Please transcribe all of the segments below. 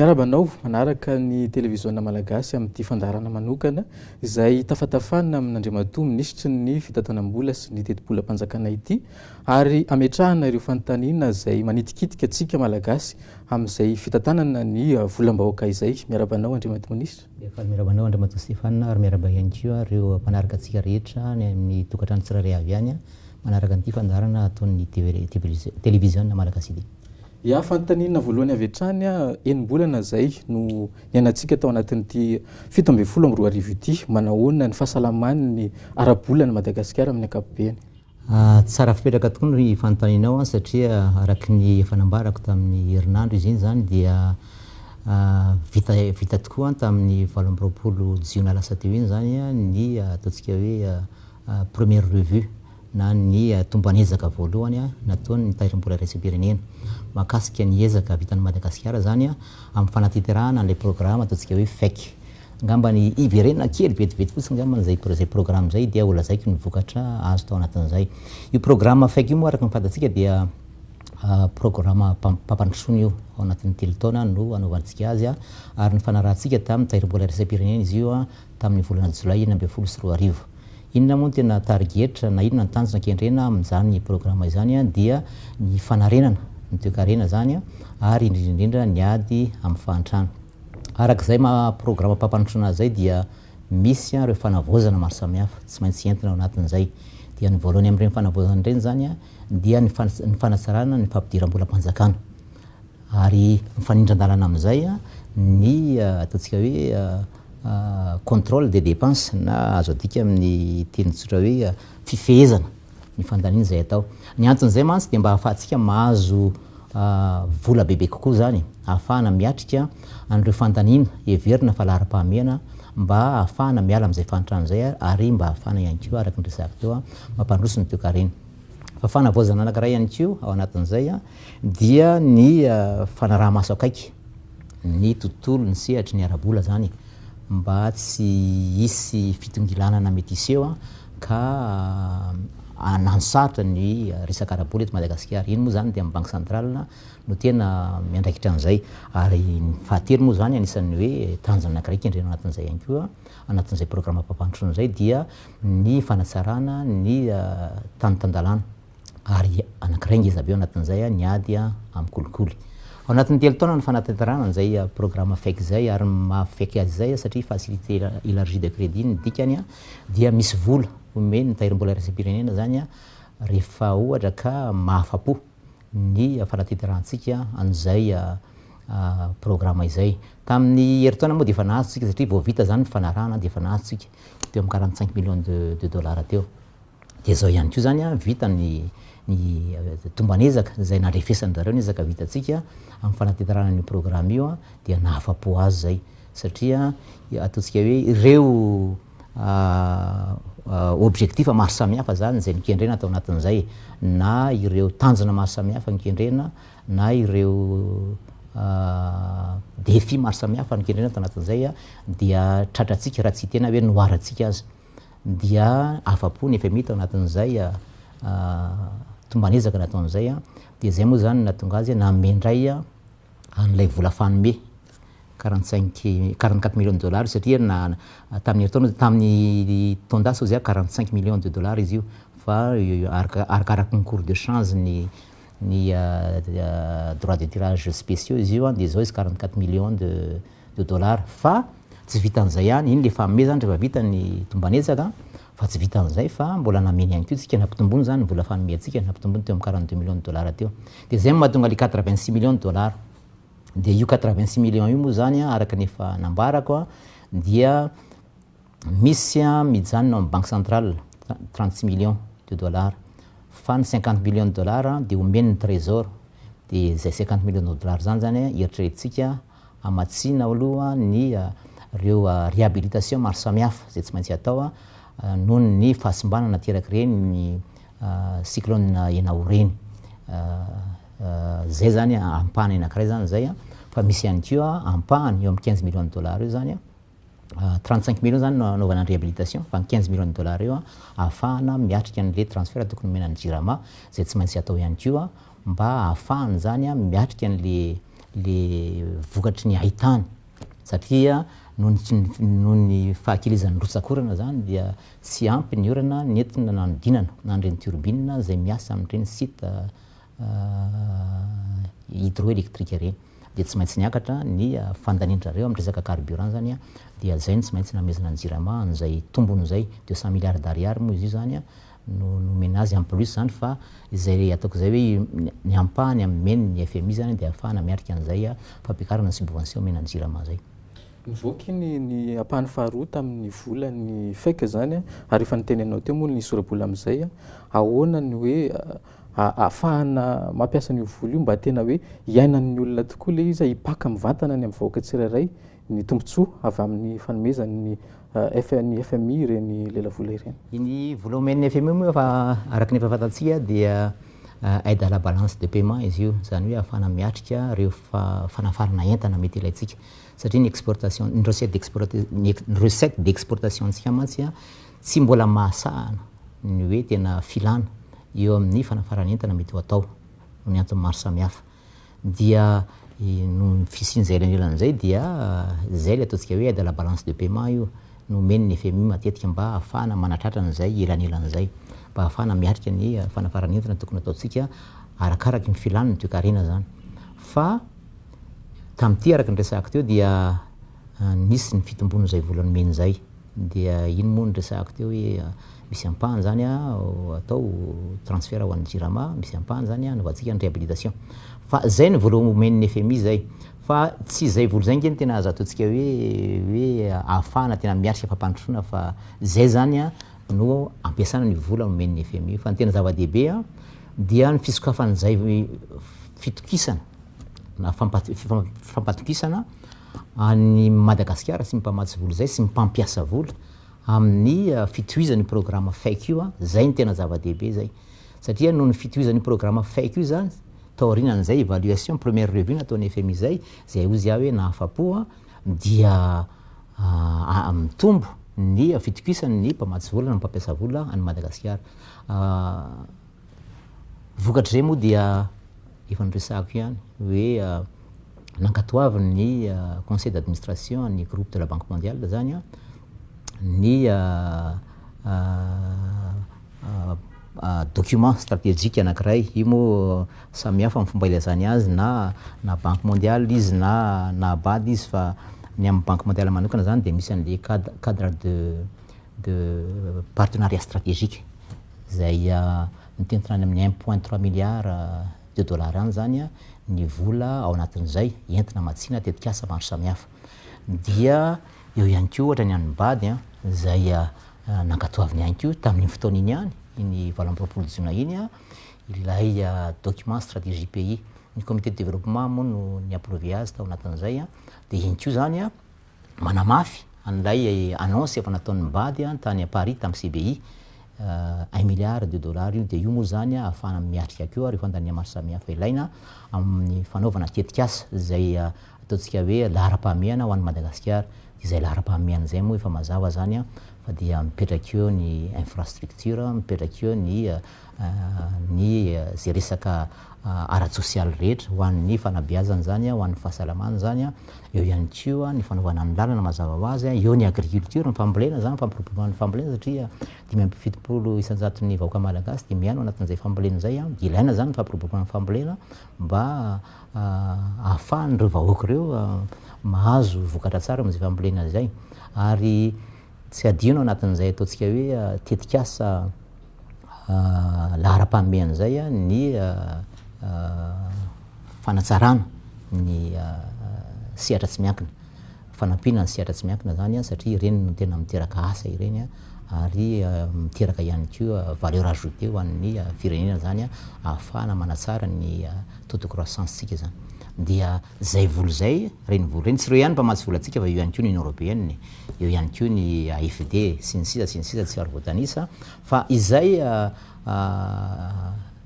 Miarahaba anao manaraka ny televiziona malagasy amin'ity fandaharana manokana izay tafatafana amin'Andriamatoa minisitry ny fitantanam-bola sy ny tetibolam-panjakana ity ary ametrahana ireo fanontaniana izay manitikitika antsika malagasy amin'izay fitantanana ny volam-bahoaka izay. Miarahaba anao Andriamatoa minisitra. Dia faly miarahaba anao Andriamatoa Stéphane ary miarahaba ihany koa ireo mpanaraka antsika rehetra any amin'ny tokantrano tsirairay avy any manaraka an'ity fandaharana ataon'ny Televiziona Malagasy ity. Ya, fanontaniana voalohany avy hatrany, enim-bolana izay no niainantsika tao anatin'ity fito ambin'ny folo amby roa arivo ity, manahoana ny fahasalaman'ny ara-bolan'i Madagasikara amin'ny ankapobeny? Tsara fipetraka tokoa ny fanontanianao satria araka ny efa nambarako tamin'ny herinandro izy iny izany dia vita vita tokoa tamin'ny valo amby roapolo jiona lasa teo iny izany ny ataontsika hoe première revue na ny tomban'ezaka voalohany nataon'ny tahirim-bola iraisam-pirenena mahakasika ny ezaka vitan'i Madagasikara izany amin'ny fanatinterahana an'ilay programa ataontsika hoe FEC. Ngamba ny hiverena kely vetivety fotsiny ngambany zay zay programme zay dia ho lazaiko ny vokatra azo tao anatin'izay. Io programme faiky io moa araka ny fantatsika dia programme mpampandrosoana io ao anatin'ny telo taona no anaovantsika azy ary nifanarahantsika tamin'ny tahirimbola iraisam-pirenena izy io tamin'ny volana jolay enina ambin'ny folo sy roa arivo. Inona moa no tena tarigetra na inona ny tanjona kendrena amin'izany programme izany dia ny fanarenana ny toekarena zany ary indrindra indrindra ny ady amin'ny fahantrana. Araka izay maha programa mpampanotrana azy izay dia misy ireo fanavaozana maro samihafa tsy maintsy entina ao anatin'izay. Dia ny voalohany amin'ireny fanavaozana ireny izany dia ny ny fanatsarana ny fampidiram-bolam-panjakana. Ary mifanindran-dalana amin'izay ny ataontsika hoe contrôle des dépenses na azo adika amin'ny teny tsotra hoe fifehezana ny fandaniana izay atao. Ny anton'izay mantsy dia mba ahafahantsika mahazo vola bebe kokoa izany, ahafahana miatrika an'ireo fandaniana heverina fa laharam-pahamehana mba ahafahana miala amin'izay fahantrana izay ary mba ahafahana ihany koa araka ny resahako teo mampandroso ny toekarena. Fa fanavaozana anankiray ihany koa ao anatin'izay dia ny fanaraha-maso akaiky. ny tontolo, ny sehatry ny ara-bola izany mba tsy hisy fitongilanana mety hiseho ka hananosarotra ny resaka ara-bola eto Madagasikara. Iny moa izany dia ny Banky Centrale no tena miandraikitra an'izay. Ary ny fahatelo moa izany anisan'ny hoe tanjona anankiray kendrena anatin'izay ihany koa, anatin'izay programam-pampandrosoana izay dia ny fanatsarana ny tany tan-dalàna. ary anankiray ngeza be ao anatin'izay ny ady amin'ny kolikoly. Ao anatin'ny telo taona no fanatanterahana an'izay programa fake izay ary ny maha fake azy izay satria facilité élargie de crédit ny dikany dia misy vola omen'ny tahirimbola iraisam-pirenena izany rehefa ohatra ka mahafa-po ny fanatenterahantsika an'izay programa izay. Tamin'ny herintaona moa dia efa nahazo isika satria vao vita izany ny fanarahana dia efa nahazo isika teo amin'ny quarante cinq millions de dollars teo. Dia izao ihany koa izany an, vita ny ny tomban'ezaka izay nandrefesan-dry zareo ny ezaka vitantsika amin'ny fanatinterahana an'io programme io an, dia nahafa-po azy izay satria ataontsika hoe ireo objectifs maro samihafa izany izay nokendrena tao anatin'izay na ireo tanjona maro samihafa nokendrena na ireo défis maro samihafa nokendrena tao anatin'izay dia tratrantsika raha tsy tena hoe noharantsika aza. dia afa-po ny fmi tao anatin'izay tomban'ezaka nataony izay, dia izay moa izany no nahatonga azy nanome indray an'ilay vola fanome quarante cinq quarante quatre millions de dollars satria tamin'ny herintaona tamin'ny taon-dasa hoy za quarante cinq millions de dollars izy io fa arakaraky ny cours de change ny ny droits de tirage spéciaux izy io dia izao izy quarante quatre millions de de dollars fa tsy vitan'izay ihany, iny le fahamea zany rehefa vita ny tomban'hetsaka fa tsy vitan'izay fa mbola namely ihany koa tsika nampitomboiny zany ny vola fanomiantsika nampitomboiny teo amin'ny quarante deux millions de dollars teo de zay no mahatonga le quatre vingt six millions de dollars de io quatre vingt six millions io moa zany araka ny efa nambarako dia Misy mijanona ao amin'ny banque centrale trente-six millions de dollars fa ny cinquante millions de dollars dia omen'ny trésor dia izay cinquante millions de dollars izany izany eritreretintsika hamatsiana aloha ny ireo réhabilitation maro samihafa izay tsy maintsy atao noho ny fahasimbana naterak'ireny cyclone Enao ireny. Izay izany ampahany anankiray izany izay fa misy ihany koa ampahany eo amin'ny quinze millions de dollars eo izany. 35 millions zany no anaovana ny réhabilitation fa ny 15 millions de dollars io ahafahana miatrika an'le transfert tokony homena ny Jirama zay tsy maintsy atao ihany koa mba ahafahany zany miatrika an'le le vokatry ny haitany satria noho ny noho ny fahakelezan'ny rotsak'orana zany dia tsy ampy ny orana nentina nanodinana na an'ireny turbine zay miasa amin'ireny site hydroélectrique ireny dia tsy maintsy niakatra ny fandanian'zareo amin'ny resaka carburant zany dia zay no tsy maintsy namezana ny jirama an'izay tombony izay deux cent milliards d'ariary moa izy io zany no nomena azy en plus zany fa izay ataoko izay hoe ny ampahany ameny ny FMI zany dia afahana miatrika an'izay fampiakarana ny subvention omena ny jirama zay. Nivoaka iny ny ampahany faharoa tamin'ny volan'ny fek zany ary efa niteny anao teo moa ny sora-bola amin'izay ahoana ny hoe ahafahana mampiasa an'io vola io mba tena hoe hiaina amin'ny olona tokoa ilay izy, hipaka mivantana ny amin'ny vahoaka tsirairay ny tombontsoa avy amin'ny fanomezan'ny FMI, FMI ireny lelavola ireny. Iny vola omen'ny FMI moa efa araka ny efa fantatsika dia aide à la balance de paiement izy io, izany hoe ahafahana miatrika ireo fanafarana entana mety ilaintsika satria ny exportation, ny recette d'exportation, ny recettes d'exportation-tsika mantsy Tsy mbola mahasahana ny hoe tena filana eo amin'ny fanafaran'entana mety ho atao noho ny antony maro samihafa dia noho ny fisian'izay elanelana izay dia izay ilay ataontsika hoe aide à la balance de paiement io no omen'ny fmi matetika mba hahafahana manatratra an'izay elanelana izay mba hahafahana miatrika ny fanafaran'entana tokony ataontsika arakaraky ny filan'ny toekarena izany fa tamin'ity araka ny resahako teo dia nisy ny fitomboan'izay vola nomeny izay. Dia ino moa no resahako teo hoe misy ampahany izany atao transfert ho an'ny Jirama, misy ampahany izany anaovantsika ny réhabilitation. Fa izay no vola omen'ny fmi izay. Fa tsy izay vola izay ange no tena azo ataontsika hoe hoe ahafahana tena miatrika fampandrosoana fa izay izany no ampiasana ny vola omen'ny fmi. Fa ny tena zava-dehibe dia ny fisokafan'izay fitokisana na fampatokisana. an'i Madagasikara sy ny mpamatsy vola izay sy ny mpampiasa vola amin'ny fitohizan'io programa fake io, izay no tena zava-dehibe izay satria noho ny fitohizan'io programa fake io izany taorianan'izay evaluation, première revue nataon'ny fmi izay, izay hoy izy aho hoe nahafa-po dia mitombo ny fitokisan'ny mpamatsy vola na ny mpampiasa vola an'i Madagasikara. Vokatr'izay moa dia efa noresahako ihany hoe nankatoavin'ny conseil d'administration an'ny groupe de la banque mondiale izany ny document strategique anankiray. Io moa samihafa amin'ny fomba ilazany azy na na banque mondiale izy na na BAD izy fa ny an'ny banque mondiale manokana izany dia misy an'ilay cad- cadre de de partenariat strategique. izay mitentina any amin'ny un point trois milliards de dollars any izany ny vola ao anatin'izay entina hamatsiana tetikasa maro samihafa. Dia eo ihany koa ohatra ny an'ny Bad izay nankatoaviny ihany koa tamin'iny fotoana iny ihany, iny valo amby roapolo jiona iny, ilay document stratégie pays. Ny comité de développement moa no ni-approve azy tao anatin'izay, dia iny koa izany Manamafy an'ilay annonce efa nataon'ny Bad tany à Paris tamin'ny CBI, un milliard de dollars io, dia io moa izany ahafahana miatrika koa ireo fandaniana maro samihafa ilaina amin'ny fanaovana tetikasa izay ataontsika hoe laharam-pahamehana ho an'i Madagasikara. Dia izay laharam-pahamehana izay moa efa mazava izany fa dia mipetraka eo ny infrastructure, mipetraka eo ny ny izay resaka ara-tsosialy rehetra ho an'ny fanabeazana izany, ho an'ny fahasalamana izany, eo ihany koa ny fanaovana ny lalana mazava ho azy, eo ny agriculture, ny fambolena izany, fampiroboroboana ny fambolena satria dimy amby fitopolo isan-jaton'ny vahoaka malagasy dia miaina ao anatin'izay fambolena izay, dia ilaina izany ny fampiroboroboana ny fambolena mba ahafahan'ireo vahoaka ireo mahazo vokatra tsara amin'izay fambolena izay. Ary. Tsy hadino anatin'izay ataontsika hoe tetikasa laharam-pahamehana izay ny fanatsarana ny sehatra tsy miankina, fanampiana ny sehatra tsy miankina izany satria ireny no tena miteraka asa ireny ary miteraka ihany koa valeur ajoutée ho an'ny firenena izany ahafahana manatsara ny taux de croissance-tsika izany. Zay vola zay, reny vola reny, tsy reo ihany mpamatsy volantsika fa eo ihany koa ny Union Européenne, eo ihany koa ny AFD sy ny sisa sy ny sisa tsy ary voatanisa fa izay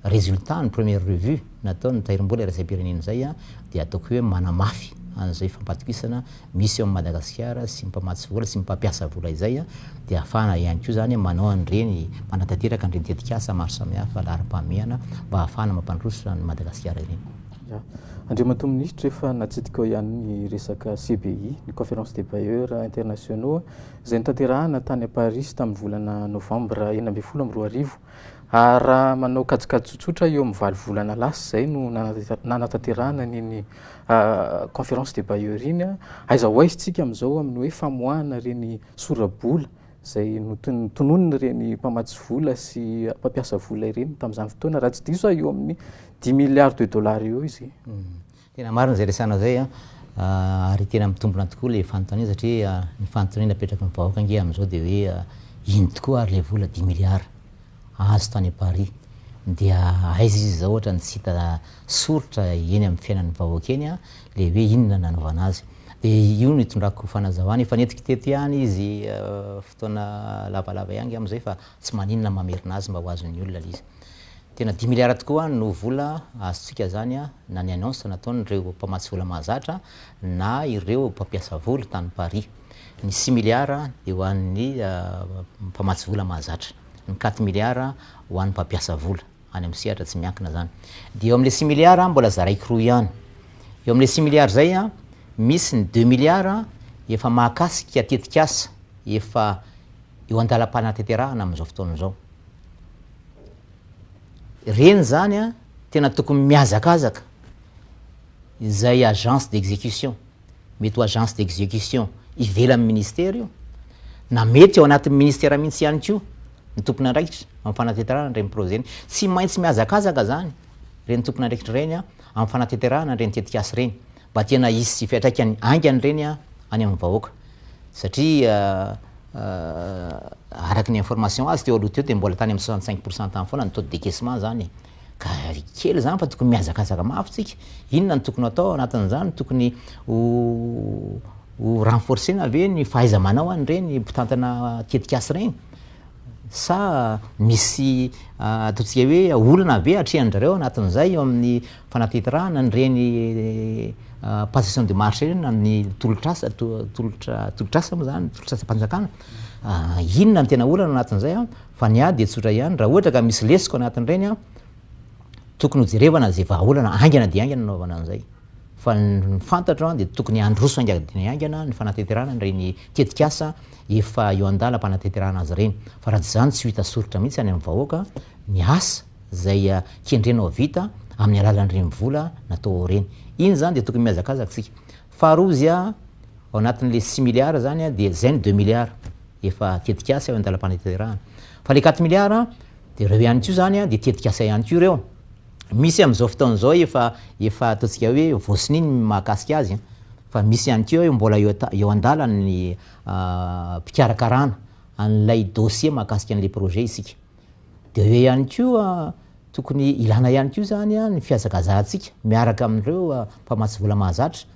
résultat ny première revue nataon'ny Tahirimbola iraisam-pirenena izay dia ataoko hoe manamafy an'izay fampatokisana misy eo amin'i Madagasikara sy ny mpamatsy vola sy ny mpampiasa vola izay dia ahafahana ihany koa izany manao an'ireny manatanteraka an'ireny tetikasa maro samihafa laharam-pahamehana mba ahafahana mampandroso an'i Madagasikara ireny. Ya. Andriamatoa Minisitra, efa natsidikao ihany ny resaka CBI, ny Conférence des Bailleurs Internationaux, izay notanterahana tany à Paris tamin'ny volana novambra enina ambin'ny folo amby roa arivo. Ary raha manao kajikajy tsotsotra, eo amin'ny valo volana lasa izay no nanatera- nanatanterahana an'iny Conférence des Bailleurs iny. Aiza ho aiza isika amin'izao amin'ny hoe famoahana ireny sora-bola izay notononin'ireny mpamatsy vola sy mpampiasa vola ireny tamin'izany fotoana, raha tsy diso aho eo amin'ny dix milliards de dollars eo izy. Tena marina izay resahanao izay an, ary tena mitombina tokoa ilay fanontaniana satria ny fanontaniana apetraky ny vahoaka ange amin'izao dia hoe ino tokoa ary ilay vola dix milliards? azy tany Paris dia aiza izy izao ohatrany tsy hita soritra eny amin'ny fiainan'ny vahoaka eny le hoe inona no nanaovana azy dia io no itondrako fanazavana efa nentiko teto ihany izy fotoana lavalava ihany angamba izay fa tsy maninona mamerina azy mba ho azon'ny olona le izy tena dimy miliara tokoa no vola azontsika zany na ny annonce nataon'ireo mpamatsy vola mahazatra na ireo mpampiasa vola tany Paris Ny similiara dia ho an'ny mpamatsy vola mahazatra. Ny katimiliara ho an'ny mpampiasa vola, any amin'ny sehatra tsy miankina izany. Dia eo amin'ilay similiara mbola zaraiko roa ihany. Eo amin'ilay similiara izay, misy ny deux miliara efa mahakasika tetikasa efa eo an-dalam-panatanterahana amin'izao fotoana izao. Ireny izany tena tokony mihazakazaka izay agence d'exécution mety ho agence d'execution ivelan'ny ministera io, na mety ao anatin'ny ministera mihitsy ihany koa ny tompon'andraikitra amin'ny fanatanterahana an'ireny projet ireny. Tsy maintsy mihazakazaka izany ireny tompon'andraikitra ireny amin'ny fanatanterahana an'ireny tetikasa ireny mba tena hisy fiantraikany haingana ireny any amin'ny vahoaka. Satria araka ny information azo teo aloha teo dia mbola tany amin'ny 65 pourcent tany foana ny taux de décaissement izany e. Ka ry kely izany fa tokony mihazakazaka mafy tsika, inona no tokony atao ao anatin'izany, tokony ho ho renforcer-na ve ny fahaiza-manao an' ireny mpitantana tetikasa ireny, sa misy ataontsika hoe olana ve atrehan-dry zareo ao anatin'izay eo amin'ny fanateterahana an'ireny passation de marche ireny na ny tolotr'asa tolotra tolotr'asa moa izany, tolotr'asam-panjakana, inona no tena olana ao anatin'izay an? Fa ny ahy dia tsotra ihany, raha ohatra ka misy lesoka anatin'ireny an, tokony hojerevana izay vahaolana haingana dia haingana no hanaovana an'izay. Fa ny fantatro an, dia tokony handroso haingana dia haingana ny fanateterana an'ireny tetik'asa efa eo an-dalam-panateterana azy ireny. Fa raha tsy izany tsy ho hita soritra mihitsy any amin'ny vahoaka ny asa izay kendrena ho vita amin'ny alalan'ireny vola natao ao ireny. Iny izany dia tokony mihazakazaka isika. Faharoa izy ao anatin'ilay six milliards izany dia izay ny deux milliards efa tetikasa eo an-dalam-panatanterahana. Fa ilay quatre milliards dia ireo ihany koa izany dia tetikasa ihany koa ireo. Misy amin'izao fotoana izao efa efa ataontsika hoe voasonia ny mahakasika azy fa misy ihany koa eo mbola eo ata- eo an-dalana ny ah, fikarakarana an'ilay dossier mahakasika an'ilay projet isika. Dia eo ihany koa tokony ilana ihany koa izany ny fihazakazahantsika miaraka amin'ireo mpamatsy vola mahazatra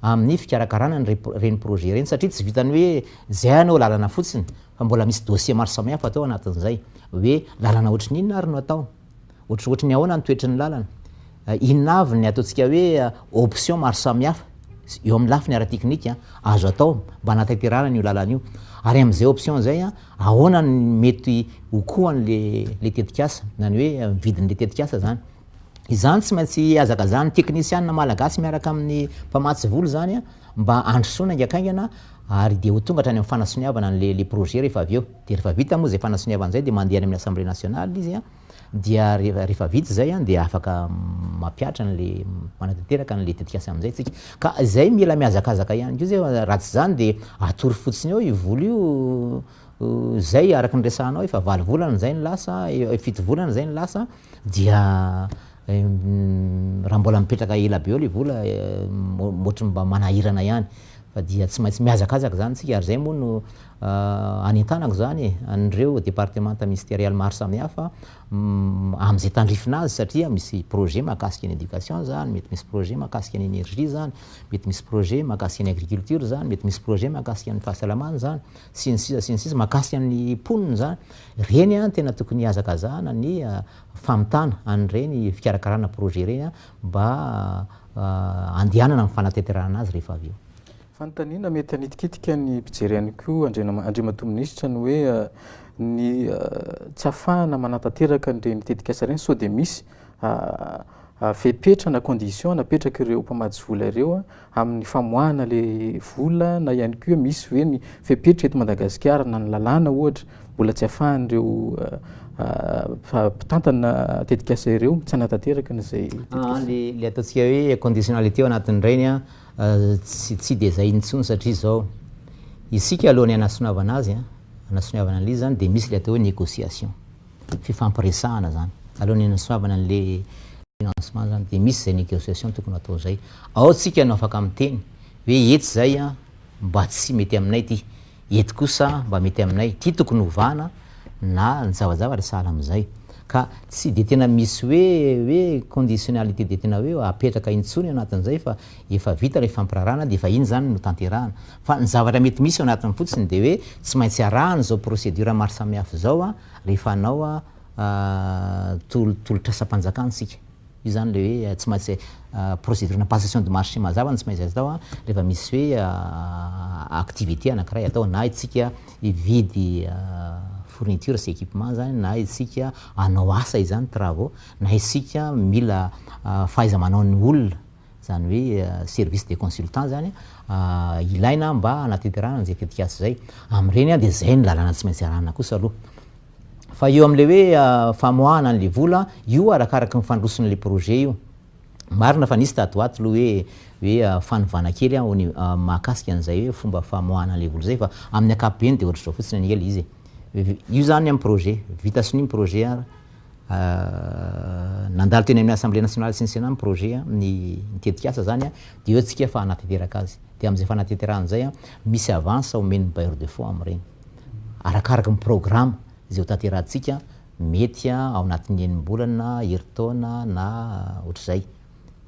amin'ny fikarakarana an'ireny projet ireny satria tsy vitan'ny hoe izay anao lalana fotsiny fa mbola misy dossier maro samihafa atao anatin'izay hoe lalana ohatrin'inona ary no atao ohatrohatry ny ahoana ny toetry ny lalana Inona avy ny ataontsika hoe options maro samihafa eo amin'ny lafiny ara-teknika azo atao mba hanatanterahana an'io lalana io? Ary amin'izay options izay, ahoana no mety ho kohan'ilay tetikasa, na ny hoe vidin'ilay tetikasa izany? Izany tsy maintsy hihazakazahan'ny teknisianina malagasy miaraka amin'ny mpamatsy vola izany mba handrosoana haingankaingana ary dia ho tonga hatrany amin'ny fanasoniavana an'ilay projet rehefa avy eo. Dia rehefa vita moa izay fanasoniavana izay dia mandeha any amin'ny Assemblée nationale izy. Dia rehefa vita izay dia afaka mampihatra an'ilay, manatanteraka an'ilay tetikasa amin'izay isika. Ka izay mila mihazakazaka ihany koa izay fa raha tsy izany dia atory fotsiny eo io vola io, izay araka ny resahanao efa valo volana izay no lasa, fito volana izay no lasa, dia raha mbola mipetraka ela be eo ilay vola ohatry ny mba manahirana ihany. Fa dia tsy maintsy mihazakazaka izany isika ary izay moa no. Anentanako izany an'ireo departemanta ministerialy maro samihafa amin'izay tandrifina azy satria misy projet mahakasika ny éducation izany, mety misy projet mahakasika ny énergie izany, mety misy projet mahakasika ny agriculture izany, mety misy projet mahakasika ny fahasalamana izany, sy ny sisa sy ny sisa, mahakasika ny mponina izany. Ireny no tena tokony hihazakazahana ny famitana an'ireny fikarakarana projet ireny mba handehanana amin'ny fanatanterahana azy rehefa avy eo. Fanontaniana mety hanitikitika ny mpijery ihany koa Andriana Andriamatoa Minisitra ny hoe ny tsy ahafahana manatanteraka an'ireny tetikasa ireny sao dia misy fepetra na condition napetraka ireo mpamatsy vola ireo amin'ny famoahana ilay vola na ihany koa misy ve ny fepetra eto Madagasikara na ny lalàna ohatra mbola tsy ahafahan'ireo mpitantana tetikasa ireo tsy hanatanteraka an'izay tetikasa. Ilay ataontsika hoe conditionnalité ao anatin'ireny Tsy dia izay intsony satria izao, isika alohan'ny hanasonavana azy, hanasoniavana an'ilay izy izany dia misy ilay atao hoe négociation, fifampiresahana izany. Alohan'ny hanasonavana an'ilay financement izany dia misy izay négociation tokony ho atao izay. Ao isika no afaka miteny hoe etsy izay mba tsy mety aminay ity. Eto kosa mba mety aminay ity tokony hovana na ny zavajavatra sahala amin'izay. Ka tsy dia tena misy hoe hoe conditionnalité dia tena hoe apetraka intsony anatin'izay fa efa vita ilay fampirarahana dia efa iny izany no tanterahana. Fa ny zavatra mety misy ao anatiny fotsiny dia hoe tsy maintsy arahana izao procédure maro samihafa izao rehefa hanao tolotrasam-panjakana isika. Izany ilay hoe tsy maintsy procédure na passation de marché mazava no tsy maintsy atao rehefa misy hoe activité anankiray atao na isika hividy fourniture sy équipement izany na isika hanao asa izany, travaux, na isika mila fahaiza-manaon'ny olona, izany hoe service de consultant izany, ilaina mba hanatanterahana izay tetikasa izay. Amin'ireny dia izay no lalàna tsy maintsy arahina kosa aloha. Fa eo amin'ilay hoe famoahana an'ilay vola, io arakaraky ny fandrosoan'ilay projet io. Marina fa nisy tato ho ato aloha hoe hoe fanovana kely an, mahakasika an'izay hoe fomba famoahana an'ilay vola izay fa amin'ny ankapobeny dia ohatr'izao fotsiny anie ilay izy e. Io izany amin'ny projet, vita sonia ny projet an, nandalo teny amin'ny Assemblée nationale sy ny Sénat ny projet an, ny ny tetikasa izany an, dia eo isika fa hanatanteraka azy. Dia amin'izay fanatanterahana izay an, misy avance omen'ny bailleur de fonds amin'ireny. arakaraka ny programa izay hotanterahantsika, mety ao anatin'ny enim-bolana, herintaona na ohatr'izay,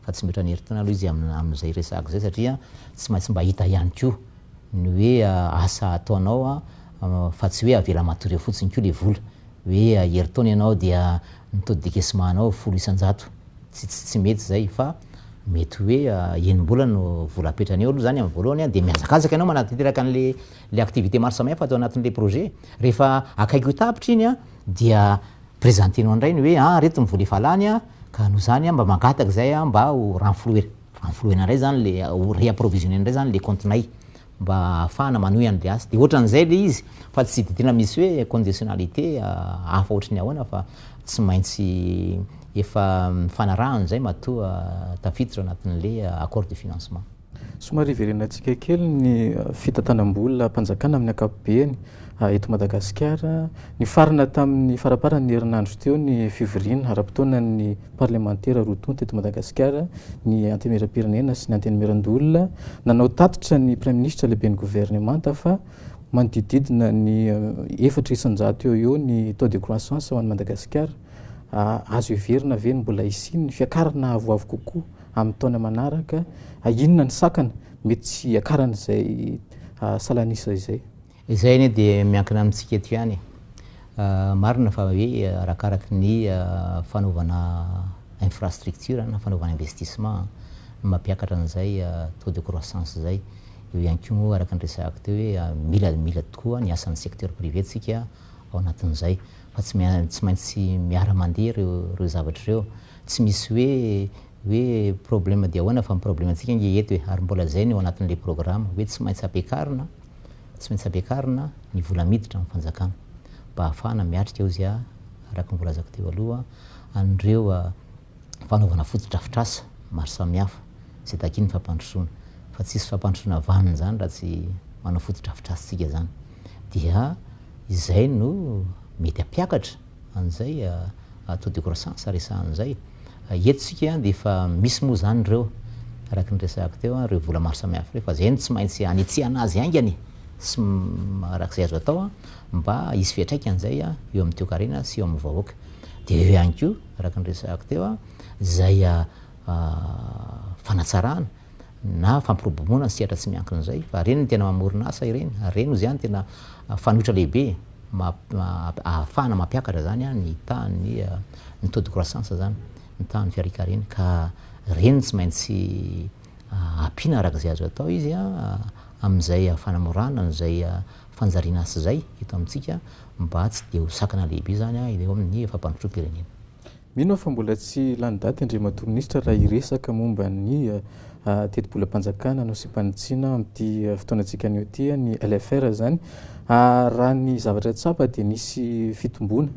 fa tsy mihoatra ny herintaona aloha izy amin'izay resahako izay satria tsy maintsy mba hita ihany koa ny hoe asa ataonao fa tsy hoe avela matory eo fotsiny koa le vola hoe herintaona ianao dia ny taux de décaissement anao folo isan-jato, tsy mety izay fa mety hoe enim-bolana no vola apetrany eo aloha izany amin'ny voalohany dia mihazakazaka ianao manatanteraka an'le Ilay activité maro samihafa atao anatin'ilay projet, rehefa akaiky ho tapitra iny an, dia presenter-nao indray ny hoe an, ireto ny vola efa lany an, ka noho izany an, mba mangataka izay an, mba ho renflouer, renflouer-na indray izany ilay, ho reapprovisionner-na indray izany ilay kaontinay, mba ahafahana manohy an'ilay asa. Dia ohatran'izay ilay izy, fa tsy dia tena misy hoe conditionnalité hafa ohatry ny ahoana, fa tsy maintsy efa mifanarahana izay matoa tafiditra ao anatin'ilay accord de financement. Somary hiverenantsika kely ny fitantanam-bolam-panjakana amin'ny ankapobeny eto Madagasikara. Nifarana tamin'ny faramparan'ny herinandro teo ny fivoriana ara-potoanan'ny parlemantera roa tonta eto Madagasikara, ny Antenimierampirenena sy ny Antenimierandoholona. Nanao tatitra ny Praiminisitra lehiben'ny governemanta fa manodidididina ny efatra isan-jato eo eo ny taux de croissance ao an'i Madagasikara. Azo heverina ve ny mbola hisian'ny fiakarana avoavo kokoa? amin'ny taona manaraka, ah, inona ny sakana mety tsy hiakaran'izay ah, salan'isa izay? Izay anie dia miankina amintsika eto ihany. Ah, marina fa hoe ah, arakaraky ny ah, fanaovana infrastructure na fanaovana investissement no mampiakatra an'izay ah, taux de croissance izay. Eo ihany koa moa araka ny resahako teo hoe ah, mila mila tokoa ny asan'ny secteur privé tsika ao anatin'izay fa tsy, tsy maintsy miara-mandeha ireo, ireo zavatra ireo. Tsy misy hoe hoe problème dia ahoana fa ny problème antsika ange eto e, ary mbola zay no eo anatin'ilay programme hoe tsy maintsy ampiakarina tsy maintsy ampiakarina ny vola miditra amin'ny fanjakana mba ahafahana miatrika ozy a araka ny voalazako teo aloha an'ireo fanaovana fotodrafitrasa maro samihafa izay takian'ny fampandrosoana fa tsisy fampandrosoana vanona zany raha tsy manao fotodrafitrasa tsika zany dia izay no mety ampiakatra an'izay taux de croissance resahana an'izay. Eto isika dia efa misy moa izany ireo, araka ny resahako teo, ireo vola maro samihafa ireo, fa izay no tsy maintsy hanitsihana azy haingany sy araka izay azo atao mba hisy fiantraikany izay eo amin'ny toekarena sy eo amin'ny vahoaka. Dia eo ihany koa, araka ny resahako teo, izay fanatsarana na fampiroboroboana ny sehatra tsy miankina izay fa ireny no tena mamorona asa ireny ary ireny hoy izany tena fanoitra lehibe ahafahana mampiakatra izany ny tahan'ny ny taux de croissance izany, ny tahan'ny fiarikareny ka ireny no tsy maintsy ampiana araka izay azo atao izy amin'izay fanamorana an'izay fanjariana asa izay eto amintsika mba tsy dia ho sakana lehibe izany eo amin'ny fampandrosoam-pirenena. Mino aho fa mbola tsy lany daty Andriamatoa Minisitra raha hiresaka momba ny tetibolam-panjakana nosiam-panitsiana amin'ity fotoanantsika anio ity, ny LFR izany. Raha ny zavatra tsapa dia nisy fitomboana,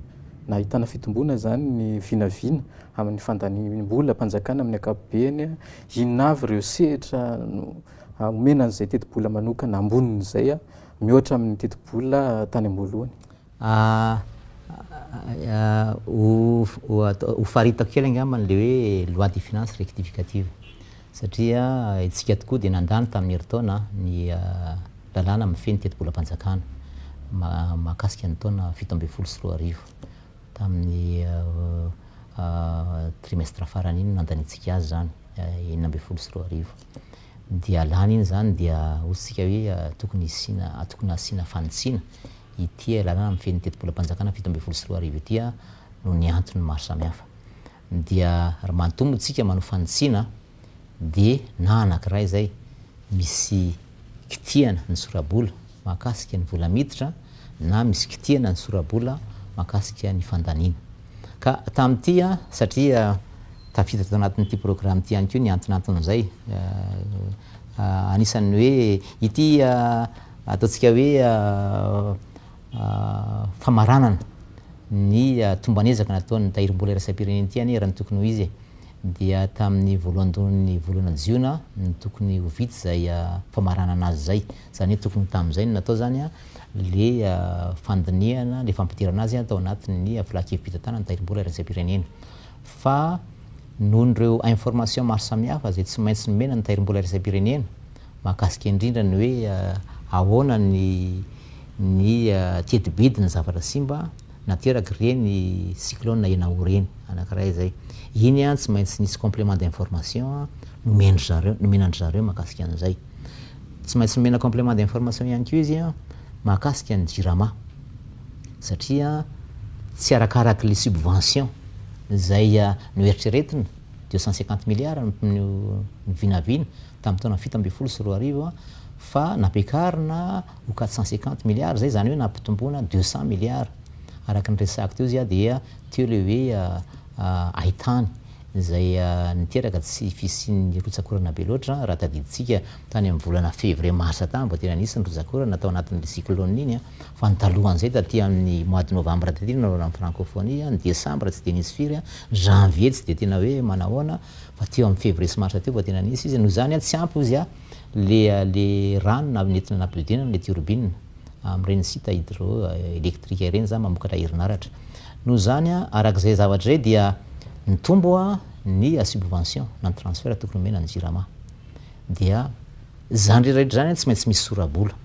nahitana fitomboana izany ny vinavina amin'ny fandaniam-bolam-panjakana amin'ny ankapobeny. Inona avy ireo sehatra omena an'izay tetibola manokana ambonin'izay mihoatra amin'ny tetibola tany am-boalohany? Hofaritako kely angamba an'ilay hoe loi de finances rectificative, satria isika tokoa dia nandany tamin'ny herintaona ny lalàna mifehy ny tetibolam-panjakana mahakasika ny taona fito ambin'ny folo sy roa arivo. Tamin'ny trimestre farany iny no nandaniantsika azy izany, enina ambin'ny folo sy roa arivo. dia lany iny izany dia hotsika hoe tokony hisiana tokony hasiana fanitsiana ity lalana mifehy ny tetibolam-panjakana fito ambin'ny folo sy roa arivo ity noho ny antony maro samihafa. Dia raha manontolo moa isika manao fanitsiana dia na anankiray izay misy kitihana ny sora-bola mahakasika ny vola miditra na misy kitihana ny sora-bola mahakasika ny fandaniana. Ka tamin'ity an, satria tafiditra tao anatin'ity programa ity ihany koa ny antonanton'izay, anisan'ny hoe ity ataontsika hoe famaranana ny tomban'ezaka nataon'ny Tahirimbola iraisam-pirenena ity anie raha ny tokony ho izy e. Dia tamin'ny voalohandohan'ny volana jiona no tokony ho vita izay famaranana azy izay. Zany hoe tokony tamin'izay no natao zany le fandinihana, le fampidirana azy tao anatin'ny filan-kevi-pitantanana ny tahirim-bola iraisam-pirenena. Fa noho ireo informations maro samihafa izay tsy maintsy nomena ny tahirim-bola iraisam-pirenena, mahakasika indrindra ny hoe ahoana ny ny teti-bidin'ny zavatra simba naterak'ireny cyclone Enawo ireny, anankiray izay. Iny tsy maintsy nisy complément d'information nomen-dry zareo, nomena an-dry zareo mahakasika an'izay. Tsy maintsy nomena complément d'information ihany koa izy mahakasika ny Jirama satria tsy arakaraky le subvention izay noeritreretina de 150 milliards no vinavina tamin'ny taona fito ambin'ny folo sy roa arivo fa nampiakarina ho 450 milliards izay izany hoe nampitomboana 200 milliards araka ny resahiko teo izy dia teo le hoe ahitany izay niteraka tsy fisian'ny rotsak'orana be loatra. Raha tadidintsika tany amin'ny volana février-mars tany vao tena nisy ny rotsak'orana tao anatin'iny cyclone iny fa ny talohan'izay taty amin'ny mois de novembre taty no nanaovana ny francophonie, ny décembre tsy dia nisy firy, janvier tsy dia tena hoe manahoana fa teo amin'ny février sy mars teo vao tena nisy izy. Noho izany tsy ampy hozy ilay rano nentina nampiodinana ilay turbine. amin'ireny site hydro électrique ireny izany mamokatra herinaratra. Noho izany, araka izay zavatra izay dia nitombo ny subvention na ny transfert tokony omena ny Jirama. Dia izany rehetra izany tsy maintsy misy sora-bola.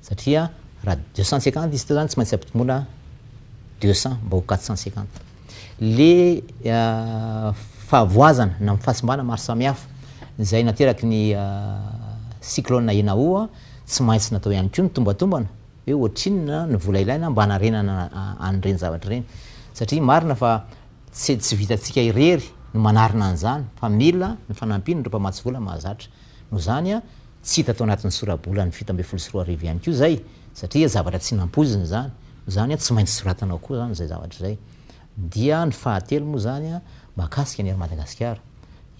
Satria raha deux cent cinquante izy teo izany tsy maintsy ampitombona deux cent mba ho quatre cent cinquante. le fahavoazana na fahasimbana maro samihafa izay nateraky ny cyclone Enao tsy maintsy natao ihany koa ny tombatombana hoe ohatrinona ny vola ilaina mba hanarenana an'ireny zavatra ireny satria marina fa tsy tsy vitantsika irery ny manarina an'izany fa mila ny fanampian'ireo mpamatsy vola mahazatra Noho izany, tsy hita tao anatin'ny sora-bolan'ny fito ambin'ny folo sy roa arivo ihany koa izay, satria zavatra tsy nampoizina izany. Noho izany, tsy maintsy soratana ao koa izany izay zavatra izay. Dia ny fahatelo moa izany, mahakasika ny Air Madagasikara.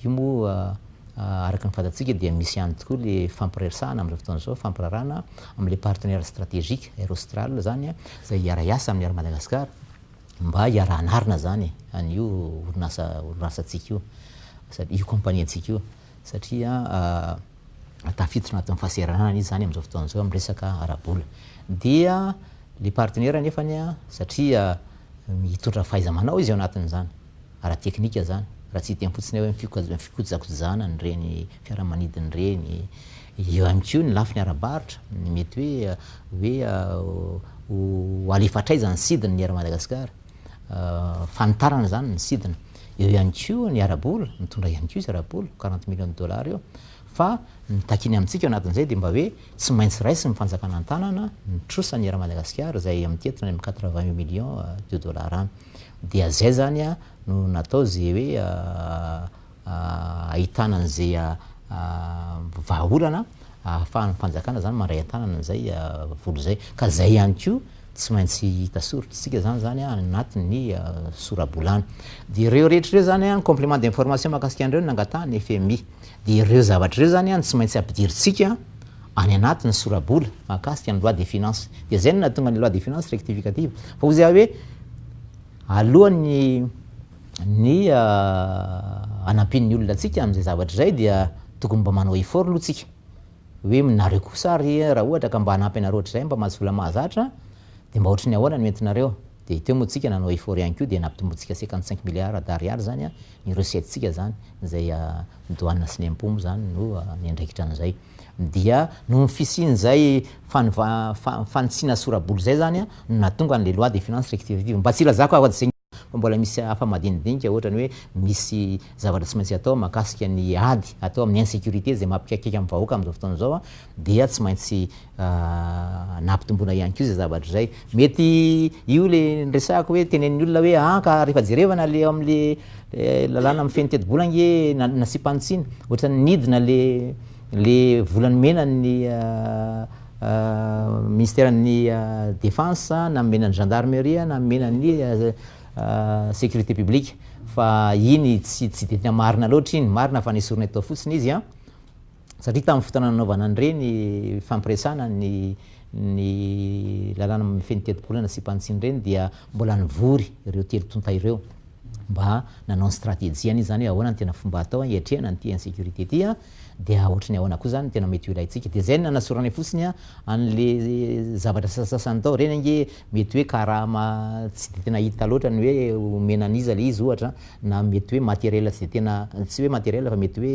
Io moa, araka ny fantatsika, dia misy ihany tokoa ilay fifampiresahana amin'izao fotoana izao, fampirarahana amin'ilay partenaire stratégique, Air Austral izany, izay hiara-hiasa amin'ny Air Madagasikara, mba hiara-hanarina izany an'io orinasa, orinasantsika io, io kaompaniantsika io. satria tafiditra anatin'ny fahasahiranana izy zany amin'izao fotoana izao amin'ny resaka ara-bola. Dia le partenaire anefany satria mitondra fahaiza-manao izy ao anatin'izany, ara-teknika zany, raha tsy hiteny fotsiny hoe ny fikojakojana an'ireny fiaramanidina ireny, eo ihany koa ny lafiny ara-barotra, mety hoe hoe ho alefa hatraiza ny sidiny ny eran'i Madagasikara. fanitarana izany ny sidina. Eo ihany koa ny ara-bola, mitondra ihany koa izy ara-bola, quarante millions de dollars eo. Fa ny takiany amintsika ao anatin'izay dia mba hoe tsy maintsy raisin'ny fanjakana an-tanana ny trosany eran'i Madagasikara izay amin'ity eto any amin'ny quatre vingt millions de dollars any. Dia izay izany no natao izay hoe ahitana an'izay vahaolana ahafahan'ny fanjakana zany mandray an-tanana an'izay vola izay. Ka izay ihany koa tsy maintsy hita soritr'isika zany zany anatin'ny sora-bolana. Dia ireo rehetra ireo zany an, complément d'information mahakasika an'ireo no nangatahan'ny fmi. Dia ireo zavatra ireo zany an tsy maintsy ampidirintsika any anatin'ny sora-bola mahakasika ny loi des finances. Dia izay no nahatonga ny loi des finances rectificative. Fa hoy za hoe alohan'ny. Ny hanampian'ny olona antsika amin'izay zavatra izay dia tokony mba manao effort aloha tsika hoe nareo kosa ary raha ohatra ka mba hanampy anareo hatrizay mba mahazo vola mahazatra dia mba ohatry ny ahoana no entinareo dia teo moa tsika nanao effort ihany koa dia nampitombointsika cinquante cinq milliards d'ariary zany ny recette tsika zany izay douane sy ny impot moa zany no niandraikitra an'izay dia noho ny fisian'izay fanitsiana sorabola izay zany no nahatonga an'ilay loi des finances rectificative mba tsy hilazako afa-tsy izay fa mbola misy hafa madinidinika ohatrany hoe misy zavatra tsy maintsy atao mahakasika ny ady atao amin'ny insecurité izay mampikaikaika amin'ny vahoaka amin'izao fotoana izao dia tsy maintsy nampitomboina ihany koa izay zavatra izay. Mety io le niresahako hoe tenenin'ny olona hoe an ka rehefa jerevana le ao amin'le lalàna mifehy ny tetibola ange nasiam-panitsiana ohatrany nidina le Le vola nomenan'ny Ministeran'ny Defense na nomenan'ny Gendarmerie na nomenan'ny Sécurité Publique fa iny tsy tsy dia tena marina loatra iny, marina fa nesorina eto fotsiny izy an, satria tamin'ny fotoana nanaovana an'ireny fampiresana ny ny lalàna mifehy ny tetibolana sy mpantsiny ireny dia mbola nivory ireo telo tonta ireo mba nanao ny stratégie-ny izany hoe ahoana no tena fomba atao hiatrehana an'ity insécurité ity an, Dia ohatry ny ahoana koa izany no tena mety ho ilaintsika? Dia izay no nanasoranay fotsiny an'le zavatra sasasasany tao. Ireny ange mety hoe karama tsy dia tena hita loatra ny hoe omena an'iza ilay izy ohatra, na mety hoe matériel tsy dia tena, tsy hoe matériel fa mety hoe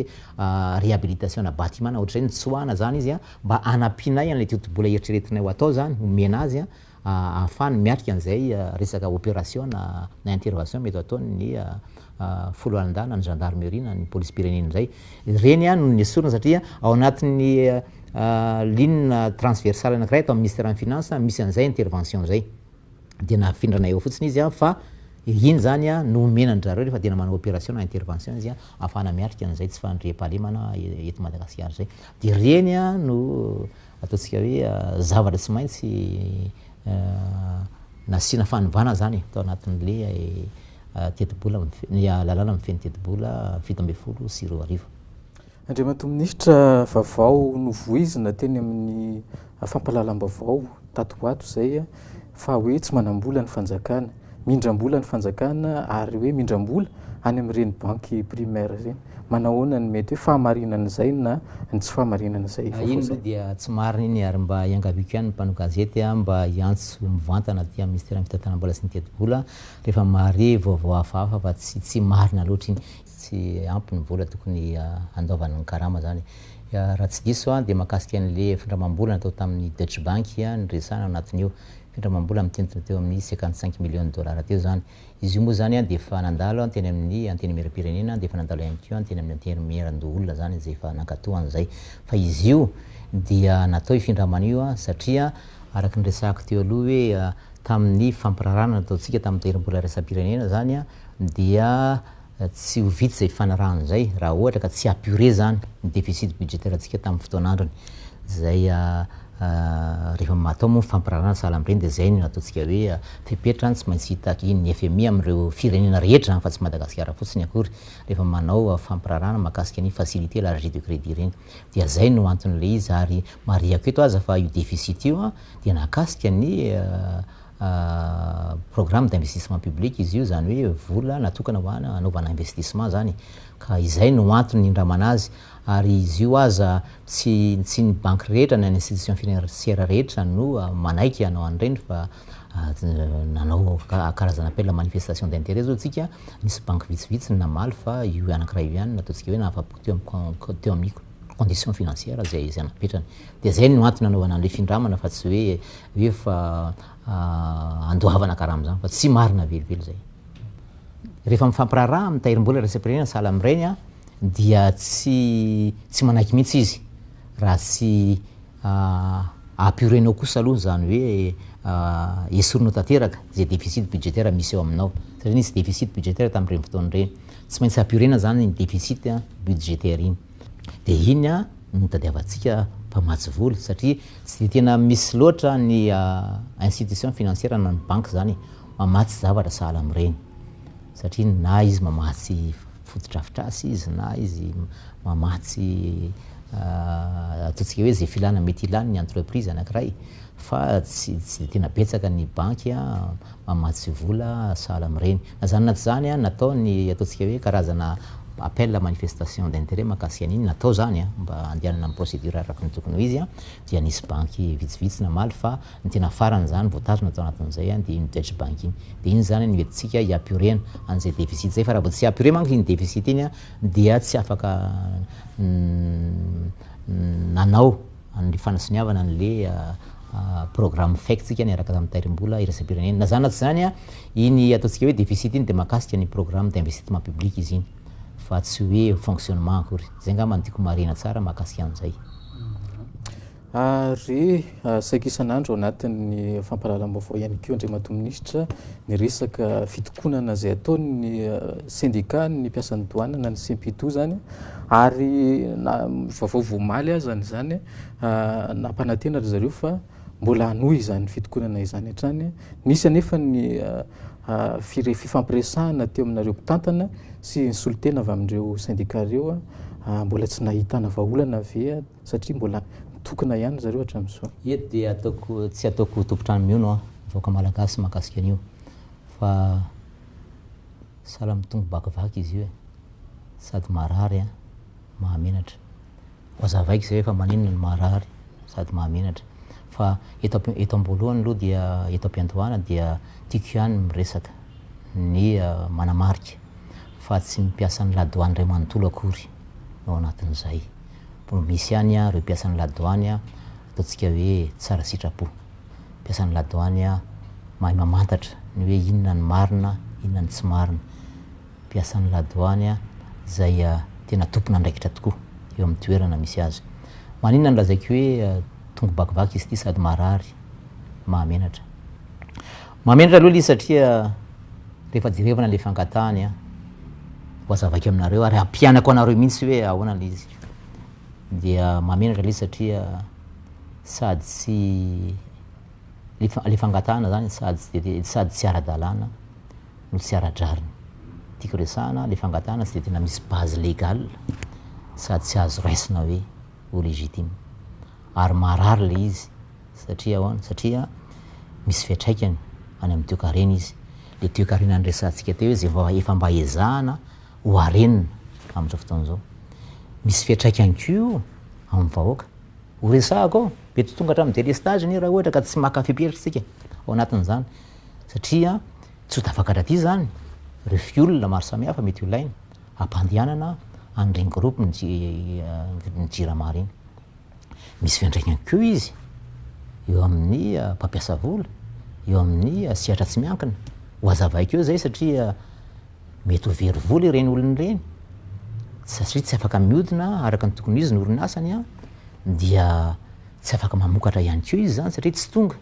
réhabilitation ana bâtiment na ohatr'izay, nitsoahana izany izy mba hanampianay an'ilay totobola eritreretinay ho atao izany, homena azy ahafahany miatrika an'izay resaka opérationa na intervention mety hataon'ny foloalindahy na ny gendarmerie na ny polisim-pirenena indray. Ireny no nesorina satria ao anatin'ny ligne transversale anankiray ato amin'ny ministère-n'ny finances misy an'izay intervention izay. Dia nafindrana eo fotsiny izy fa iny izany no omena an-dry zareo rehefa tena manao opération na intervention izy ahafahana miatrika an'izay tsy fandriampahalemana eto Madagasikara izay. Dia ireny no Ataontsika hoe zavatra tsy maintsy nasiana fanovana izany tao anatin'ilay tetibola, ny lalàna mifehy ny tetibola fito ambin'ny folo sy roa arivo. Andriamatoa Minisitra, vaovao novoizina teny amin'ny fampahalalam-baovao tato ho ato izay, fa hoe tsy manam-bola ny fanjakana, mindram-bola ny fanjakana ary hoe mindram-bola any amin'ireny banky primaire ireny. Manahoana ny mety hoe fahamarinan'izay na ny tsy fahamarinan'izay vaovao izay? Iny aloha dia tsy marina iny ary mba iangaviako ihany ny mpanao gazety mba hiantso mivantana aty amin'ny Minisiteran'ny Fitantanam-bola sy ny Tetibola rehefa mahare vaovao hafahafa fa tsy tsy marina loatra iny. tsy ampy ny vola tokony handaovany ny karama zany. Raha tsy diso aho dia mahakasika an'le findramam-bola natao tamin'ny Deutsche Bank niresahana ao anatin'io. Findramam-bola mitentina teo amin'ny cinquante cinq millions dollars teo zany. Izy io moa zany dia efa nandalo teny amin'ny Antenimieram-pirenena dia efa nandalo ihany koa teny amin'ny Antenimieran-doholona zany izay efa nankatoa an'izay. Fa izy io dia natao io findramana io satria araka ny resahako teo aloha hoe tamin'ny fampirarahana nataontsika tamin'ny tahirim-bola iraisam-pirenena zany dia tsy ho vita izay fanarahana izay raha ohatra ka tsy apurer izany ny déficit budgétaire-ntsika tamin'ny fotoan'androny. Izay rehefa atao moa ny fampirarahana ny sahala amin'ireny dia izay no ataontsika hoe fepetra tsy maintsy hitaky ny fmi amin'ireo firenena rehetra fa tsy Madagasikara fotsiny akory rehefa manao fampirarahana mahakasika ny facilité élargie de crédit ireny. Dia izay no anton'ilay izy ary marihako eto aza fa io déficit io dia nahakasika ny programme d'investissement public izy io, izany hoe vola natokana ho an hanaovana investissement izany, ka izay no antony nindramana azy, ary izy io aza tsy tsy ny banky rehetra na ny institution financière rehetra no manaiky hanao an'ireny fa nanao karazana appel à manifestation d'intérêt zao tsika, nisy banky vitsivitsy no namaly fa io anankiray io ihany no ataontsika hoe nahafapo teo am teo amiko. condition financière zay izay napetrany de zay no antony nanaovana anle findramana fa tsy hoe hoe fa andoavana karama zany fa tsy marina velively zay rehefa mifampiraharaha amin'ny tahirimbola iraisam-pirenena sahala amin'ireny an, dia tsy tsy manaiky mihitsy izy raha tsy apurenao kosa aloha izany hoe esorinao tanteraka izay déficit budgétaire misy eo aminao, satria nisy déficit budgétaire tamin'ireny fotoana ireny. Tsy maintsy ampiorina izany iny deficit budgétaire iny. Dia iny no nitadiavantsika mpamatsy vola satria tsy dia tena misy loatra ny institution financière na ny banky izany mamatsy zavatra sahala amin'ireny. Satria na izy mamatsy fotodrafitrasa izy na izy mamatsy ataontsika hoe izay filana mety hilany ny entreprise anankiray fa tsy tsy dia tena betsaka ny banky mamatsy vola sahala amin'ireny. Na izany na tsy izany an, natao ny ataontsika hoe karazana appel à manifestation d'intérêt mahakasika an'iny, natao izany an, mba handehanana amin'ny procédure araka ny tokony ho izy an, dia nisy banky vitsivitsy namaly fa ny tena farany izany voatazona tao anatin'izay an, dia iny Deutsche Bank iny. Dia iny izany an no entintsika hiapiorena an'izay déficit izay, fa raha vao tsy apiore manko iny déficit iny an, dia tsy afaka nanao ny fanisoniavana anle programme fek tsika niaraka tamin'ny tairimbola iraisam-pirenena. Na zany na tsy zany, iny ataontsika hoe deficit iny dia mahakasika ny programme d'investissement public izy iny fa tsy hoe fonctionnement akory. Zay angamba no tiako marihina tsara mahakasika an'izay. Ary saika isan'andro ao anatin'ny fampahalalam-baovao ihany koa Andriamatoa Minisitra ny resaka fitokonana izay ataon'ny syndicat ny mpiasan'ny douane na ny Cenpitou zany Ary na vaovao vao omaly azany izany, nampanantena ry zareo fa mbola hanohy izany fitokonana izany hatrany. Nisy anefa ny fifampiresahana teo aminareo mpitantana sy ny solontena avy amin'ireo sendika ireo. Mbola tsy nahitana vahaolana ve satria mbola mitokona ihany ry zareo hatramin'izao? Eto dia tsy ataoko ho tompon-trano mihaona aho, vahoaka malagasy mahakasika an'io fa. Sahala amin'ny tombo bakivaky izy io e! Sady marary an! Mahamenatra! Hoazavaiko izay hoe fa maninona no marary sady mahamenatra. Fa eto am- eto am-boalohany aloha dia eto am-piandohana dia tiako ihany miresaka ny manamarika fa tsy ny mpiasan'ny la douane iray manontolo akory no ao anatin'izay. Mbola misy ihany ireo mpiasan'ny la douane ataontsika hoe tsara sitrapo. mpiasan'ny la douane a mahay mamantatra ny hoe inona ny marina inona ny tsy marina mpiasan'ny la douane a zay a tena tompon'andraikitra tokoa eo amin'ny toerana misy azy maninona no lazaiko hoe tongo bakivaky izy ity sady marary mahamenatra mahamenatra aloha le satria rehefa jerevana le fangatahany a ho azavaiko aminareo ary hampianako anareo mihitsy hoe ahoana le izy dia mahamenatra le satria sady tsy le fangatahana zany sady tsy ara-dalàna no tsy ara-drariny. Tiako resahana le fangatahana tsy de tena misy base légale sady tsy azo raisina hoe ho légitime. Ary marary le izy satria ahoana, satria misy fiatraikany any amin'ny toekarena izy. Le toekarena niresahantsika teo izy vao efa mba ezahana ho harenina amin'izao fotoana izao. Misy fiatraikany koa amin'ny vahoaka Ho resahako ao, dia tsy tonga hatramin'ny délestage anie raha ohatra ka tsy maka fepetra isika ao anatin'izany satria tsy ho tafakatra aty izany ireo fiola maro samihafa mety holaina hampandehanana an'ireny groupe ny ny jirama ireny. Misy fiantraikany koa izy eo amin'ny mpampiasa vola, eo amin'ny sehatra tsy miankina. Ho hazavaiko eo izay satria mety ho very vola ireny olona ireny satria tsy afaka miodina araka ny tokony ho izy ny orinasany an, dia tsy afaka mamokatra ihany koa izy zany satria tsy tonga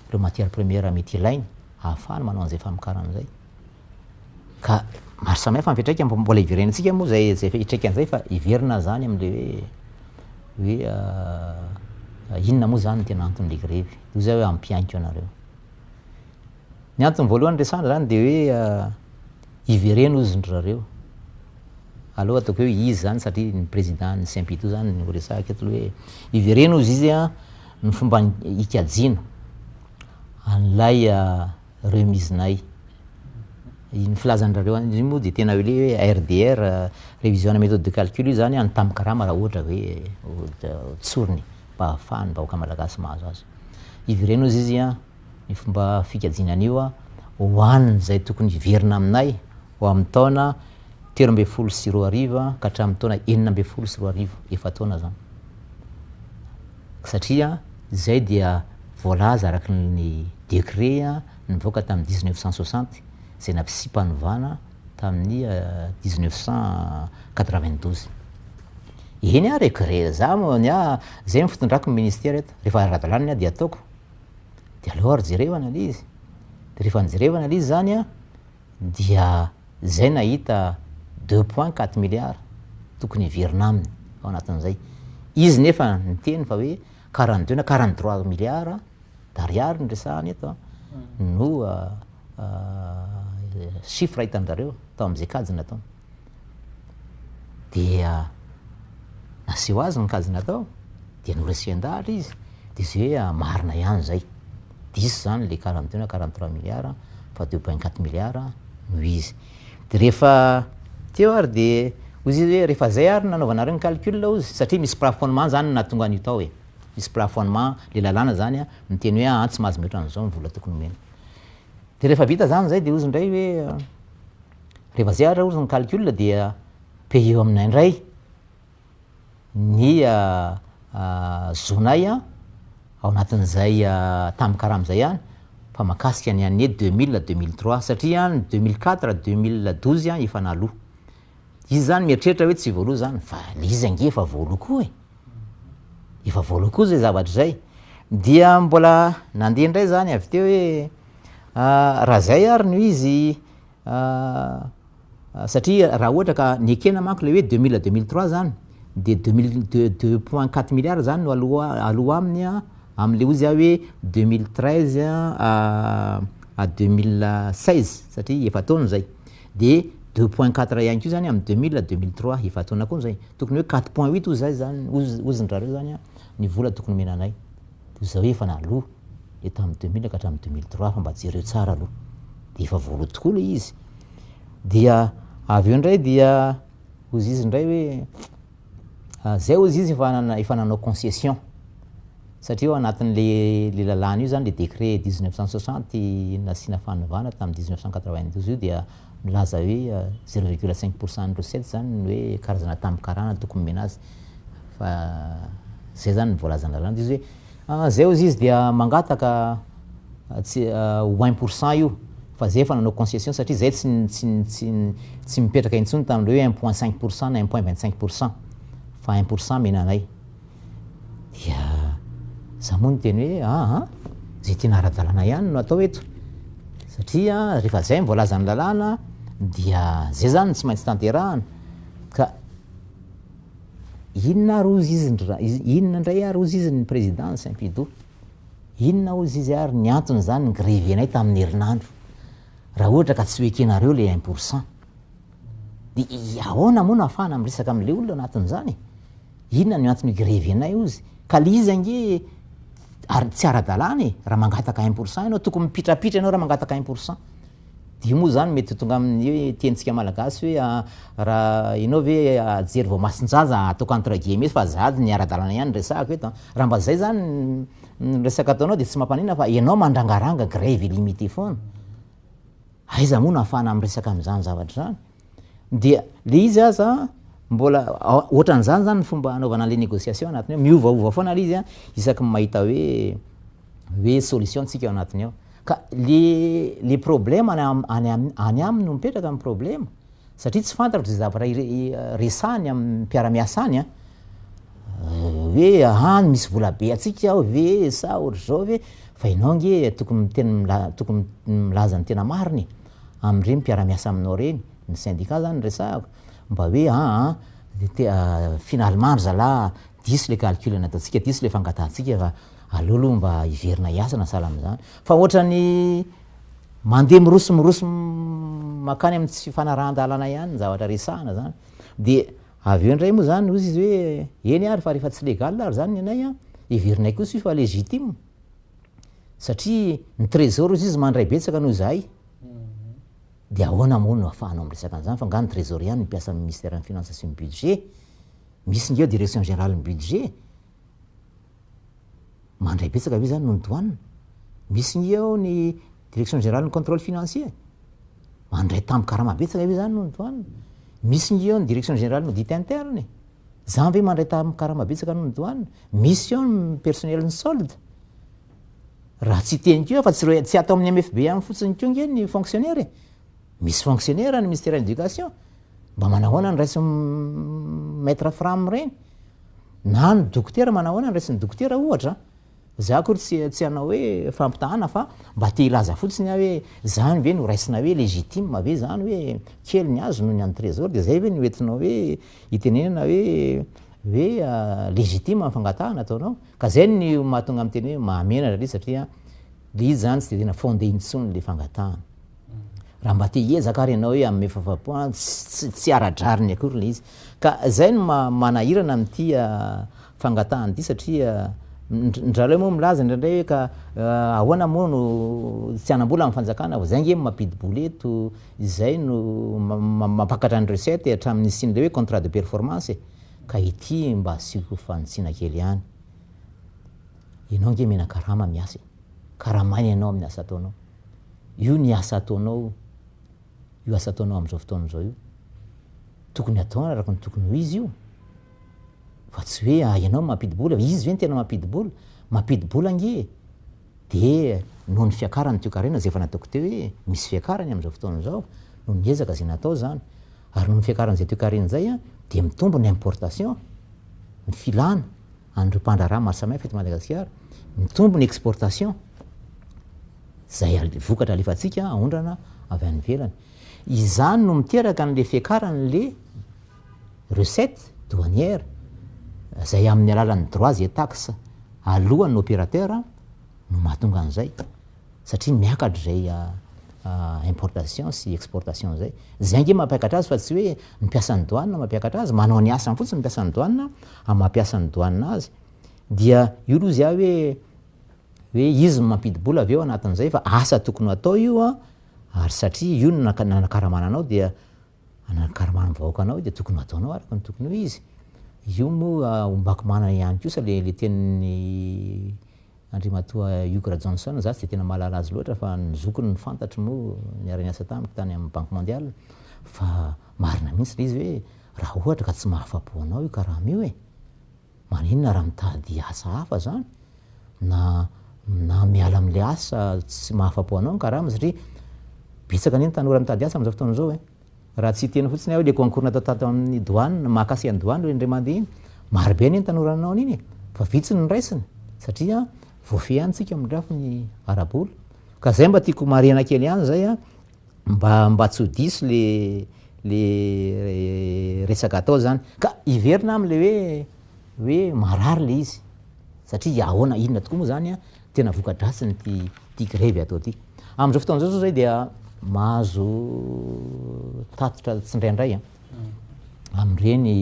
ireo matière première mety ilainy ahafahany manao an'izay famokarana izay. Ka maro samihafa ny fiantraikany fa mbola hiverenantsika moa izay izay fiantraikany izay fa hiverina izany amin'ilay hoe hoe inona moa izany ny tena anton'ilay grevy. Toy izay hoe ampihainiko anareo. Ny antony voalohany resahana zany de hoe hivereno ozy ndry zareo aleo ataoko hoe izy zany satria ny président ny CMPITO zany no resahiko eto hoe hivereno ozy izy an ny fomba hikajiana an'ilay remise nay iny filazan'drareo any iny moa de tena hoe le RDR révision ana méthode de calcul io zany an ny tambin-karama raha ohatra hoe tsorina e mba ahafahan'ny vahoaka malagasy mahazo azy hivereno ozy izy an ny fomba fikajiana an'io ho an'izay tokony hiverina aminay ho amin'ny taona telo ambin'ny folo sy roa arivo ka hatramin'ny taona enina ambin'ny folo sy roa arivo, efa-taona izany. Satria izay dia voalaza araka ny décret nivoaka tamin'ny dix neuf cent soixante izay nampisiham-panovana tamin'ny dix neuf cent quatre vingt douze. Eny aho regret, za moa ny ahy, izay no fitondrako ny ministera eto, rehefa ara-dalàna ny ahy dia ataoko. de aleo ary jereo analyse, de rehefa nijereva analyse zany an, dia zay nahita deux point quatre milliards tokony hiverina aminy ao anatin'izay, izy nefa niteny fa hoe quarante deux na quarante trois milliards d'ariary no resahana eto an, no chiffre hitan-dry zareo tao amin'izay kajy nataony. dia naseho azy ny kajy natao dia noresian-dahatra izy dia zay hoe ah, marina ihany izay, diso izany ilay quarante deux na quarante trois milliards fa deux point quatre milliards no izy. Dia rehefa teo ary dia hoy izy hoe rehefa izay ary nanaovanareo ny calcul hozy satria misy plafonnement izany no nahatonga an'io tao e, misy plafonnement ilay lalàna izany an, miteny hoe an tsy mahazo mihoatra an'izao ny vola tokony omena. Dia rehefa vita izany izay dia hozy indray hoe, Rehefa zay ary ozy ny calcul dia payer aminay indray ny zonay ao anatin'izay tamin'ny karama izay ihany fa mahakasika ny année deux mille, deux mille trois satria ny deux mille quatre, deux mille douze efa naloa. Izy zany mieritreritra hoe tsy voaloa zany fa le izy ange efa voaloa koa e! Efa voaloa koa zay zavatra zay. Dia mbola nandeha indray zany avy teo hoe raha zay ary no izy Ahh satria raha ohatra ka nekena manko ilay hoe deux mille à deux mille trois zany dia deux mille deux deux point quatre milliards zany no aloha aloha aminy an, amin'ilay ozy aho hoe deux mille treize à deux mille seize satria efa-taona izay, dia deux point quatre ihany koa zany amin'ny deux mille à deux mille trois, efa-taona koa izay, tokony hoe quatre point huit ozy zay zany ozy ozindrareo zany an ny vola tokony omena anay, toy izay hoe efa naloa. le tamin'ny deux mille ka hatramin'ny deux mille trois fa mba jereo tsara aloha, dia efa voaloa tokoa ilay izy, dia avy eo indray dia hozy izy indray hoe ah, zay hozy izy efa nana- efa nanao concession, satria ao anatin'le le lalàna io zany le décret dix neuf cent soixante nasiana fanovana tamin'ny dix neuf cent quatre vingt douze io dia milaza hoe zero virgule cinq pour cent ny recette zany ny hoe karazana tambin-karana tokony omena azy fa zay zany ny voalazan'ny lalàna de izy hoe. Zay ozy izy dia mangataka tsy ho un pour cent io fa zay efa nanao concession satria zay tsy tsy tsy tsy mipetraka intsony tamin'ireo hoe un point cinq pour cent na un point vingt cinq pour cent fa un pour cent mena anay dia za moa niteny hoe aa zay tena ara-dalàna ihany no atao eto satria rehefa zay ny voalazan'ny lalàna dia zay zany no tsy maintsy tanterahana ka Inona ary hozy izy ndra, inona ndray ary hozy izy ny président Saint-Pido? Inona hozy izy ary ny antony zany ny grevenay tamin'ny herinandro? Raha ohatra ka tsy ho ekenareo le un pour cent. De ahoana moa no ahafahana miresaka amin'le olona anatin'izany e? Inona no antony grevenay hozy? Ka le izy ange tsy ara-dalàna e, raha mangataka un pour cent ianao, tokony mipitrapitra ianao raha mangataka un pour cent. Io moa izany mety ho tonga amin'ny hoe tenintsika malagasy hoe raha ianao ve hahajery voamasin-jaza hataoko entre guillemets fa zahady ny ara-dalàna ihany resahako eto an. Raha mba izay izany ny resaka ataonao dia tsy mampaninona fa ianao mandrangaranga grève illimité foana. Aiza moa no ahafahana miresaka amin'izany zavatra izany? Dia le izy aza mbola ohatran'izany zany ny fomba anaovana an'le négociation anatiny ao, miovaova foana le izy isaky ny mahita hoe hoe solution tsika ao anatiny ao. Ka le le problème any any aminy no mipetraka ny problème satria tsy fantatro ze zavatra resahany amin'ny mpiara-miasa any an, hoe any misy vola be antsika ao ve sa ohatr'izao ve, fa ianao nge tokony miteny tokony milaza ny tena marina e! Amin'ireny mpiara-miasa aminao ireny, ny syndicat izany no resahako, mba hoe aa, finalement ry zalahy diso ilay calcul nataontsika, diso ilay fangatahantsika fa aleo aloha mba hiverina hiasa na sahala amin'izany. Fa ohatran'ny mandeha miroso miroso mankany amin'ny tsy fanarahan-dalana ihany ny zavatra resahana izany. Dia avy eo indray moa izany hozy izy hoe eny ary fa rehefa tsy légal ary izany ny anay an, heverinay kosa io fa légitime. satria ny trésor ozy izy mandray betsaka noho izahay dia ahoana moa no afahanao miresaka an'izany fa nga ny trésor ihany mpiasa amin'ny ministère ny finance sy ny budget misy ngeo direction générale ny budget mandray betsaka ve zany noho ny douane misy ngeo ny direction générale ny contrôle financier mandray tambo karama betsaka ve zany noho ny douane misy ngeo ny direction générale ny audit interne Zany ve mandray tam karama betsaka anao ny douane? Mission ny personnel ny solde? Raha tsy teny koa fa tsy tsy atao amin'ny MFB ihany fotsiny koa nge ny fonctionnaire e. Misy fonctionnaire ny ministère éducation. Mba manahoana ny raisin'ny maître fram ireny? Na ny dokotera manahoana ny raisin'ny dokotera ohatra? Za akory tsy tsy hanao hoe fampitahana fa mba te hilaza fotsiny aho hoe zany ve no raisina hoe legitime ve zany hoe kely ny azy noho ny an'i Trésor de zay ve no entinao hoe itenenana hoe hoe legitime ny fangatahana ataonao? Ka zay no mahatonga miteny hoe mahamenatra le izy satria le izy zany tsy de tena fondé intsony le fangatahana. Raha mba te hiezaka ary ianao hoe hanome fahafahampoana, tsy tsy ara-drariny akory ilay izy. Ka izay no ma- manahirana amin'ity ah, fangatahan'ity satria ndr- ndraleo moa milaza indraindray hoe ka ah, ahoana moa no tsy hanam-bola amin'ny fanjakana vao izay nge mampidi-bola eto, izay no ma- ma- mampakatra ny recette e, hatramin'ny nisian'ilay hoe contrat de performance e. Ka ity mba asiako fanitsiana kely ihany. Ianao nge mena karama miasa e, karamaina ianao amin'ny asa ataonao. io ny asa ataonao io asa ataonao amin'izao fotoana izao io tokony atao araka ny tokony ho izy io fa tsy hoe ah, ianao mampidi-bola izy ve ny tena mampidi-bola mampidi-bola ange dia noho ny fiakarany toekarena izay efa nataoko teo hoe misy fiakarany amin'izao fotoana izao no niezaka izay natao izany ary noho ny fiakaran'izay toekarena izay dia mitombo ny importation ny filana an'ireo mpandraharaha maro samihafa eto Madagasikara, mitombo ny exportation, izay vokatra alefantsika aondrana avy any ivelany. Izany no miteraka an'ilay fiakaran'ilay recette douanière, izay amin'ny alalan'ny droits et taxes aloan'ny opérateur no mahatonga an'izay. satria miakatra izay importation sy exportation izay. Izay ange mampiakatra azy fa tsy hoe ny mpiasan'ny douane no mampiakatra azy, manao ny asany fotsiny ny mpiasan'ny douane amin'ny mampiasa ny douane azy. Dia io aloha zia hoe hoe izy no mampidi-bola avy eo anatin'izay fa asa tokony ho atao io ary satria io no nanakaramana anao dia Hanana karma amin'ny vahoaka anao dia tokony hataonao araka ny tokony ho izy. Io moa ombako manana ihany kosa le le tenin'ny Andriamatoa Hugues Rajohnson za tsy dia tena mahalala azy loatra fa ny zokiny ny fantatro moa niara-niasa tamiko tany amin'ny Banque Mondiale fa marina mihitsy le izy hoe raha ohatra ka tsy mahafa-po anao io karama io e! Maninona raha mitady asa hafa zany na na miala amin'ilay asa tsy mahafapo anao ny karama satria betsaka anie ny tanora mitady asa amin'izao fotoana izao e. Raha tsy hiteny fotsiny aho hoe le concours natao tato amin'ny douane, mahakasika ny douane io indray mandeha iny, marobe anie ny tanora nanao an'iny e, fa vitsy ny raisina satria voafehy ihany tsika midrafo ny ara-bola. Ka zay mba tiako marihana kely ihany zay a. mba mba tsy ho diso le le resaka atao zany ka hiverina aminy le hoe hoe marary le izy satria ahoana inona tokoa moa zany tena vokadratsiny ty ty grevy atao ty amizao fotoana zao zao zay dia mahazo tatitra tsindraindray an amireny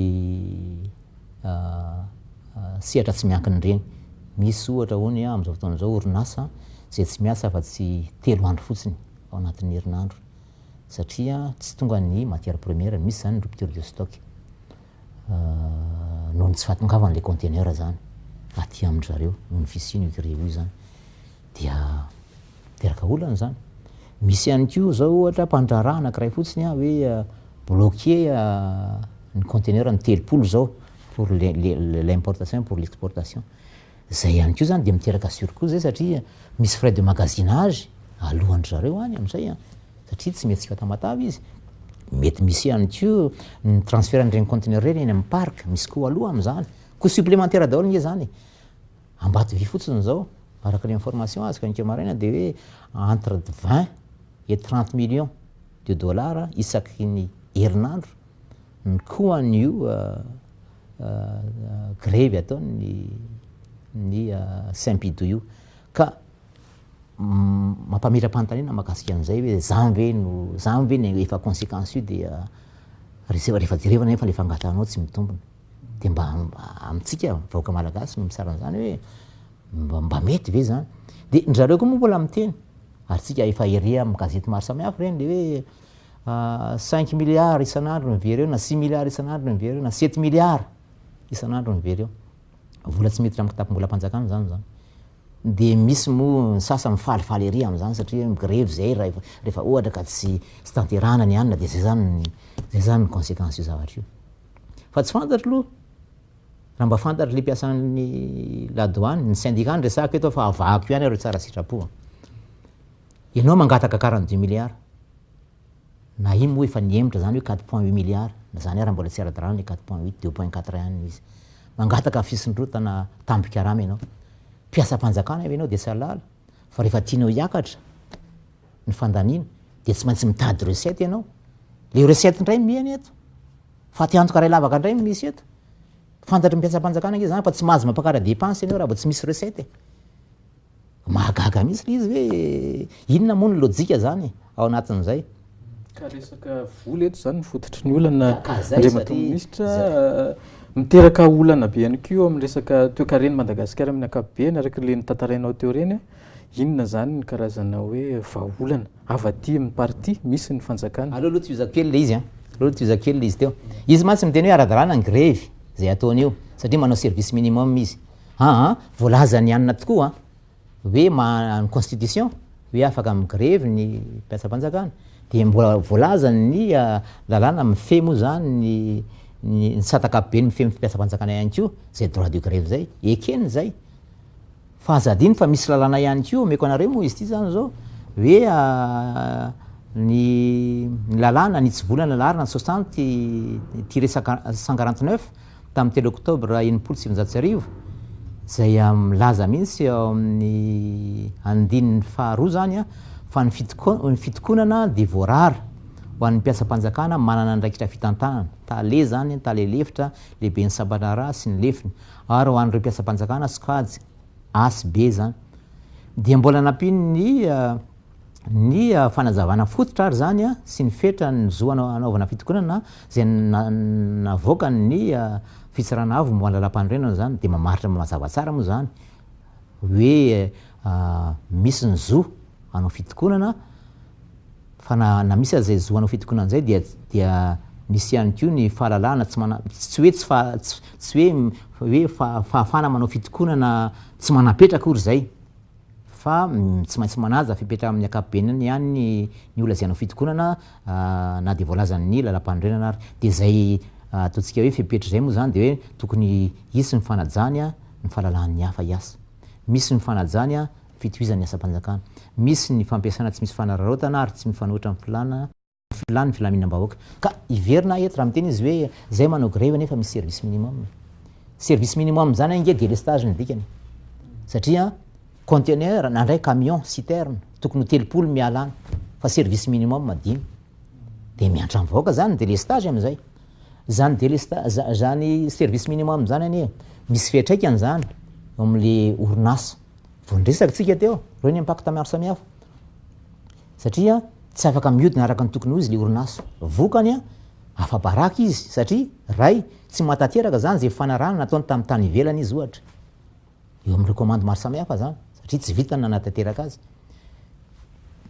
sehatra tsy miankina ireny misy ohatra ony amizao fotoana zao orinasa zay tsy miasa afa tsy telo andro fotsiny ao anatin'ny herinandro satria tsy tonga ny matière première, misy zany ny rupture de stock noho ny tsy fahatongavan'ilay conteneur zany aty amin-dry zareo noho ny fisian'io grille io zany dia miteraka olana zany. Misy ihany koa zao ohatra mpandraharaha anankiray fotsiny an hoe bloqué ny conteneur ny telopolo zao pour l'importation pour l'exportation Zay ihany koa zany dia miteraka surcoût zay satria misy frais de magasinage alohan-dry zareo any amin'izay an, satria tsy mety tsy ho à Tamatave izy. Mety misy ihany koa ny transfert an'ireny conteneurs ireny eny amin'ny parc, misy coût aloha amin'izany. Coût supplémentaire daholo ange zany e. Ambatovy fotsiny izao, araka ny information azoko anke maraina dia hoe entre 20 et 30 millions de dollars isaky ny herinandro. ny koan' io grevy ataon' ny ny Simpido io. Ka mampametra-panontaniana mahakasika an' izay hoe izany ve no izany ve no efa consequence io dia res- rehefa jerevana anefa ilay fangatranao tsy mitombina. Dia mba amintsika vahoaka malagasy no misara an'izany hoe mba mba mety ve izany? Dia ndry zareo koa moa mbola miteny ary tsika efa ery amin'ny gazety maro samihafa ireny dia hoe Cinq milliards isan'andro ny very eo, na six milliards isan'andro ny very eo, na sept milliards isan'andro ny very eo. Vola tsy miditra amin'ny kitapom-bolam-panjakana izany izany. Dia misy moa ny sasany mifalifaly ery amin'izany satria migrevy izay raha rehefa ohatra ka tsy tsy tanterahana ny hanina dia izay izany ny izay izany ny conséquence io zavatra io. Fa tsy fantatro aloha raha mba fantatr'ilay mpiasan'ny la douane, ny syndicat no resahako eto fa havahako ihany ary tsara sitrapo. Ianao mangataka quarante deux milliards. Na inn moa efa nihemotra zany hoe quatre point huit milliards, na zany ara mbola tsy ara-dalàna le quatre point huit, deux point quatre et un no izy. Mangataka fisondrotana tambin-karama ianao. Mpiasam-panjakana ve ianao dia tsy halala fa rehefa tianao hiakatra ny fandaniana dia tsy maintsy mitady recette ianao. Le recette indray no mihena eto. Faty antoka iray lavaka indray no misy eto. Fantatry ny mpiasam-panjakana ange zany fa tsy mahazo mampakara dépense ianao raha vao tsy misy recette e. Mahagaga mihitsy le izy hoe inona moa ny lojika zany ao anatin'izay. Ka resaka vola eto zany ny fototry ny olana Andriamatoa Minisitra. Miteraka olana be ihany koa eo amin'ny resaka toekaren'i Madagasikara amin'ny ankapobeny araka le notantarainao teo ireny. Inona zany ny karazana hoe vahaolana avy aty amin'ny parti misy ny fanjakana? Aleo aloha tohizako kely le izy an! Aleo aloha tohizako kely le izy teo. Izy mantsy miteny hoe ara-dalàna ny grevy zay ataony io satria manao service minimum izy. Aa, voalazan' i Anna tokoa hoe maha ny constitution hoe afaka mi-grevy ny mpiasam-panjakana, dia mbola voalazan' ny lalàna mifehy moa izany ny ny ny tsy antakapobeny mifehy ny mpiasam-panjakana ihany koa izay droit de grève izay, ekeny izay. Fa aza adino fa misy lalàna ihany koa omeko anareo moa izy ity izany izao hoe ny ny lalàna ny hitsivolana laharana soixante ity resaka cent quarante neuf, tamin'ny telo oktobra enimpolo sy sivinjato sy arivo, izay milaza mihitsy ao amin'ny andininy faharoa izany fa ny fitokonana dia voarara ho an'ny mpiasam-panjakana manana andraikitra fitantanana, tale izany, tale lefitra, lehiben'ny sampandraharaha sy ny lefiny, ary ho an'ireo mpiasam-panjakana sokajy, asb, izany. Dia mbola nampian'ny. ny fanazavana fototra ary izany sy ny fetra ny zo hanaovana fitokonana izay navoakan' ny Fitsarana Avo momba ny Lalàmpanorenana izany dia mamaritra mazava tsara moa izany hoe misy ny zo hanao fitokonana fa na na misy aza izay zo hanao fitokonana izay dia dia misy ihany koa ny fahalalahana tsy mana tsy hoe tsy fa tsy hoe hoe fahafahana manao fitokonana tsy manam-petra akory izay. fa tsy maintsy manaja fepetra amin'ny ankapobenany ihany ny ny ho lazaina ho fitokonana na dia voalazan'ny lalampanorenana ary. Dia izay ataontsika hoe fepetra izay moa izany dia hoe tokony hisy ny fanajany ny fahalalahan'ny hafa hiasa. Misy ny fanajany ny fitohizan'ny asam-panjakana. Misy ny fampiasana tsy misy fanararaotana ary tsy mifanohitra amin'ny filàna. filàn'ny filaminam-bahoaka. Ka hiverina eto raha miteny izy hoe izay manao grevy nefa misy service minimum. Service minimum izany ange délestage ny dikany. Satria conteneur na ndray camion citerne tokony ho telopolo miala any fa service minimum dimy. Dia miantra amin'ny vahoaka izany délestage amin'izay. Izany délestage izany service minimum izany anie misy fiantraikany izany eo amin'ilay orinasa. Vao niresaka antsika teo, ireo ny impact maro samihafa. satria tsy afaka miodina araka ny tokony ho izy le orinasa. Vokany, afa-baraka izy satria ray tsy mahatanteraka izany izay fanarahana nataony tamin'ny tany ivelany izy ohatra. Eo amin'ireo komandy maro samihafa izany satria tsy vitany nanatanteraka azy.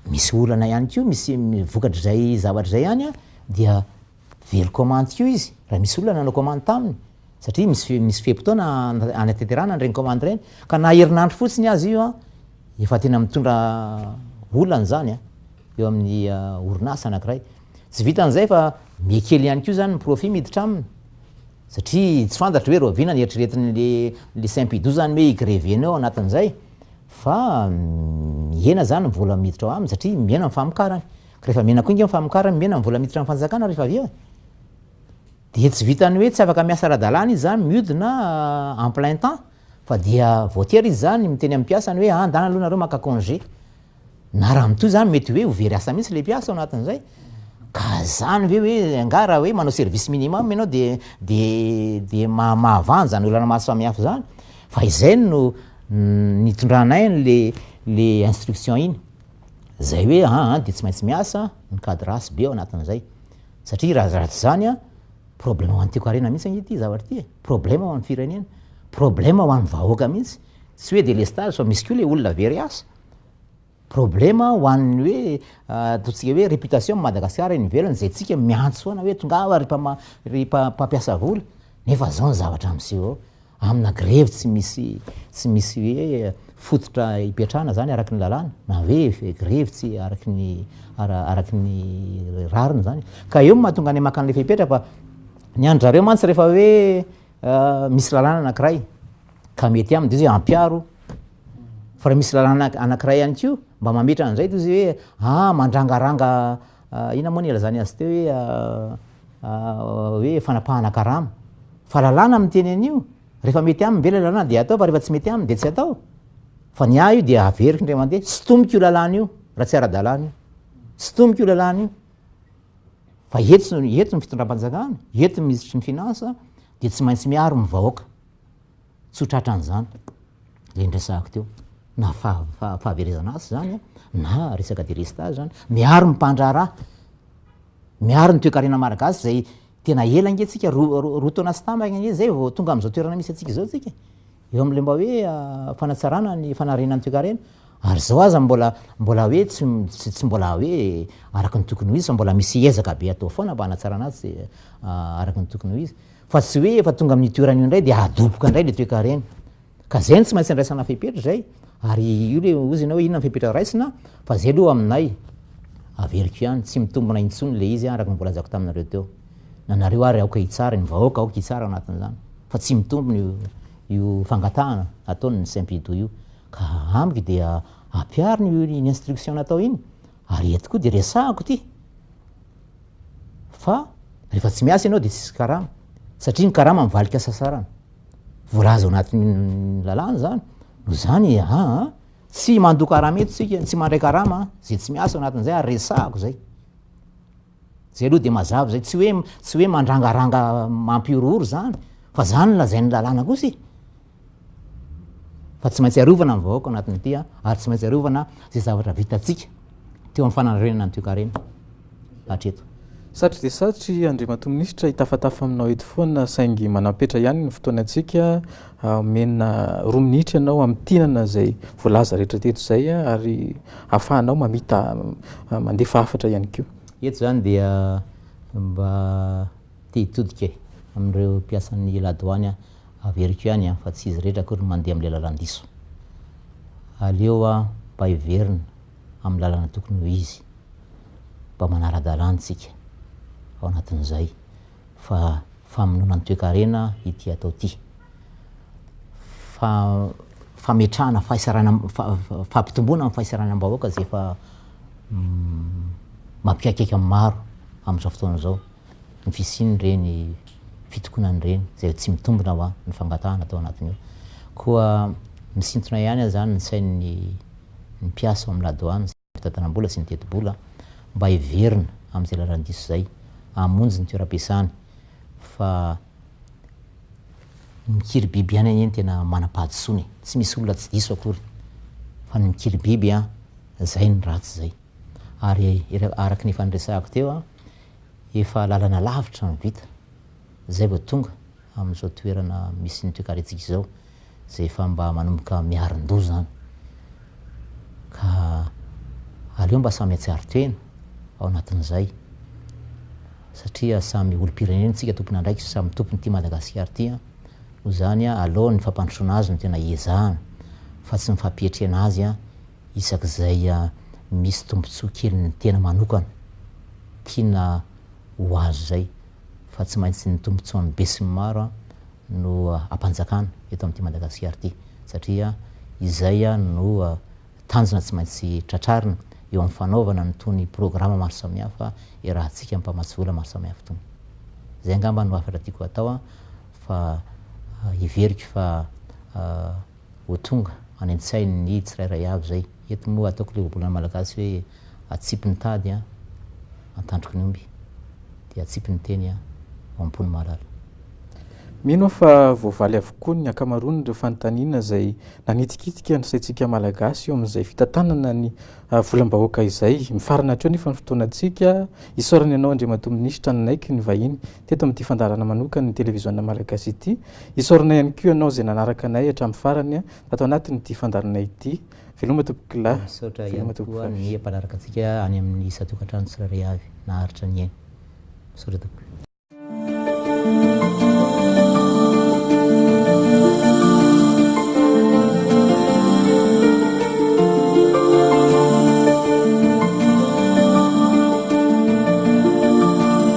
Misy olana ihany koa, misy vokatr'izay zavatra izay ihany dia very commande koa izy raha misy olona nanao commande taminy satria misy misy fe-potoana hanatanterahana an'ireny commande ireny ka na herinandro fotsiny aza io an, efa tena mitondra olana izany an, eo amin'ny orinasa anankiray. Tsy vitan'izay fa mihakely ihany koa izany ny profit miditra aminy satria tsy fantatra hoe rahoviana ny eritreretin'le le Simpido izany hoe hi-grever-na ao anatin'izay fa mihena izany ny vola miditra ao aminy satria mihena ny famokarany. Rehefa mena koa ingahy ny famokarany, mena ny vola miditra amin'ny fanjakana rehefa avy eo e! Dia tsy vitan'ny hoe tsy afaka miasa ara-dalàna izy izany, miodina en plein temps, fa dia voatery izy izany miteny amin'ny mpiasany hoe andana aloha nareo maka congé. Na raha mitohy izany mety hoe ho very asa mihitsy ilay mpiasa ao anatin'izay. Ka izany ve hoe angaha raha hoe manao service minimum ianao dia dia dia maha mahavanja ny olana maro samihafa izany? Fa izay no nitondranay an'ilay ilay instruction iny. izay hoe aa dia tsy maintsy miasa ny cadrasse be ao anatin'izay satria raha raha tsy izany an, problème ho an'ny Tiko Harena mihitsy ange ity zavatra ity e, problème ho an'ny firenena, problème ho an'ny vahoaka mihitsy, tsy hoe délestage fa misy koa ilay olona very asa, problème ho an'ny hoe ataontsika hoe réputation an'i Madagasikara eny ivelany izay tsika miantso foana hoe tongava ry mpama- ry mpampiasa vola, Nefa zao ny zavatra miseho amina grevy tsy misy tsy misy hoe fototra ipetrahana zany araky ny lalàna na hoe grevy tsy araky ny araky ny rariny zany ka eo mahatonga anay maka an'le fepetra fa ny an-dRareo mantsy rehefa hoe ah, misy lalàna anankiray ka mety aminy de izy hoe ampiaro fa raha misy lalàna anankiray ihany koa mba mametra an'izay de izy hoe ah mandrangaranga ah, ina moa ny ilazany azy teo hoe ah, hoe fanapahana karama fa lalàna miteny an'io rehefa mety aminy ve le lalàna dia atao fa rehefa tsy mety aminy dia tsy atao fa ny ahy io dia averiko indray mandeha tsy tomiko io lalàna io raha tsy ara-dalàna io tsy tomiko io lalàna io fa eto eto ny fitondram-panjakana eto ny minisitry ny finansa dia tsy maintsy miaro ny vahoaka Tsy ho tratran'izany le niresahako teo na fahaverezana asa zany na resaka delestage zany, miaro ny mpandraharaha, miaro ny toekarena malagasy zay tena ela ange tsika roa taona sy tambiny ange zay vao tonga amzao toerana misy antsika zao tsika, eo amle mba hoe fanatsarana ny fanariana ny toekarena, ary zao aza mbola mbola hoe tsy mbola hoe araka ny tokony ho izy fa mbola misy ezaka be atao foana mba hanatsarana azy araka ny tokony ho izy. Fa tsy hoe efa tonga amin'io toerana io indray dia adoboka indray ilay toekarena. Ka izay no tsy maintsy andraisana fepetra izay, ary io ilay hozy ianao hoe inona ny fepetra raisina, fa izay aloha aminay, averiko ihany, tsy mitombina intsony ilay izy araka ny voalazako taminareo teo. Na nareo ary aoka hitsara, ny vahoaka aoka hitsara ao anatin'izany, fa tsy mitombina io, io fangatahana ataon'ny Simpido io. Ka amiko dia ampiharina io instruction natao iny, Ary eto koa dia resahako ity fa rehefa tsy miasa ianao dia tsisy karama satria ny karama mivalika hasasarana. Voalaza ao anatin'ny lalàna izany. Noho izany aa tsy mandoa karama eto isika, tsy mandray karama izay tsy miasa ao anatin'izay ary resahako izay. Zay aloha dia mazava zay, tsy hoe tsy hoe mandrangaranga mampihorohoro zany, fa zany no lazain'ny lalàna kosa e! Fa tsy maintsy arovana ny vahoaka ao anatin'ity a, ary tsy maintsy arovana zay zavatra vitantsika teo amin'ny fananorenana ny toekarena hatreto. Satry dia satry Andriamatoa Minisitra, hitafatafa aminao eto foana saingy manampetra ihany ny fotoanantsika. Omena roa minitra ianao hamintinana izay voalaza rehetra teto izay ary ahafahanao mamita mandefa hafatra ihany koa. Eto izany dia mba te hitodika e, amin'ireo mpiasan'ny la douane aho, averiko ihany an, fa tsy izy rehetra akory no mandeha amin'ilay lalan-diso. Aleo mba hiverina amin'ny lalana tokony ho izy, mba manara-dalàna isika ao anatin'izay. fa famonoana ny toekarena ity atao ity, fa fametrahana fahaisarana, fampitomboana ny fahasaranam-bahoaka izay efa mampihaikaika ny maro amin'izao fotoana izao ny fisian'ireny fitokonana ireny izay tsy mitombina ho'a ny fangatahana atao anatin'io. Koa misintona ihany azany ny sain'ny mpiasa ao amin'ny la douane. fitatanam-bola sy ny tetibola mba heverina amin'izay lalan'ny diso izay hamonjy ny toeram-piasany fa ny mikiribiby ihany anie no tena manam-pahadisoana e, tsy misy olona tsy diso akory fa ny mikiribiby an, izay no ratsy izay. Ary araka ny efa niresahako teo an, efa lalana lavitra no vita, izay vao tonga. amin'izao toerana misy ny toekarentsika izao izay efa mba manomboka miarin-doha izany. Ka aleo mba samy hatsiaro tena ao anatin'izay satria samy olom-pirenena isika tompon'andraikitra, samy tompon'ity Madagasikara ity. Noho izany, aleo ny fampandrosoana azy no tena hiezahana fa tsy ny fampietrena azy isak'izay misy tombontsoa kelin'ny tena manokana tiana ho azo izay. fa tsy maintsy ny tombontsoan'ny besinimaro no hampanjakana eto amin'ity Madagasikara ity satria izay no tanjona tsy maintsy tratrarina eo amin'ny fanaovana an'itony programa maro samihafa iarahantsika mpamatsy vola maro samihafa itony. Izay angamba no hafatra tiako hatao fa heveriko fa ho tonga any an-tsain' ny tsirairay avy izay. Eto moa ataoko ilay ohabolana malagasy hoe atsipy ny tady an, antandroky ny omby, dia atsipy ny teny an, ao am-po no mahalala. Mino aho fa voavaly avokoa ny ankamaroan'ireo fanontaniana izay nanitikitika ny saintsika Malagasy eo amin'izay fitantanana ny volam-bahoaka izay. Mifarana hatreo anefa ny fotoanantsika. Isaorana ianao Andriamatoa Minisitra nanaiky ny vahiny teto amin'ity fandaharana manokan'ny Televiziona Malagasy ity. Isaorana ihany koa ianao izay nanaraka anay hatramin'ny farany tato anatin'ity fandaharana ity. Veloma Tompokolahy, Misaotra veloma ihany koa Tompokofavy. ny mpanaraka antsika any amin'ny isan-tokantrano tsirairay avy naharitra ny ainy. Misaotra tompoko.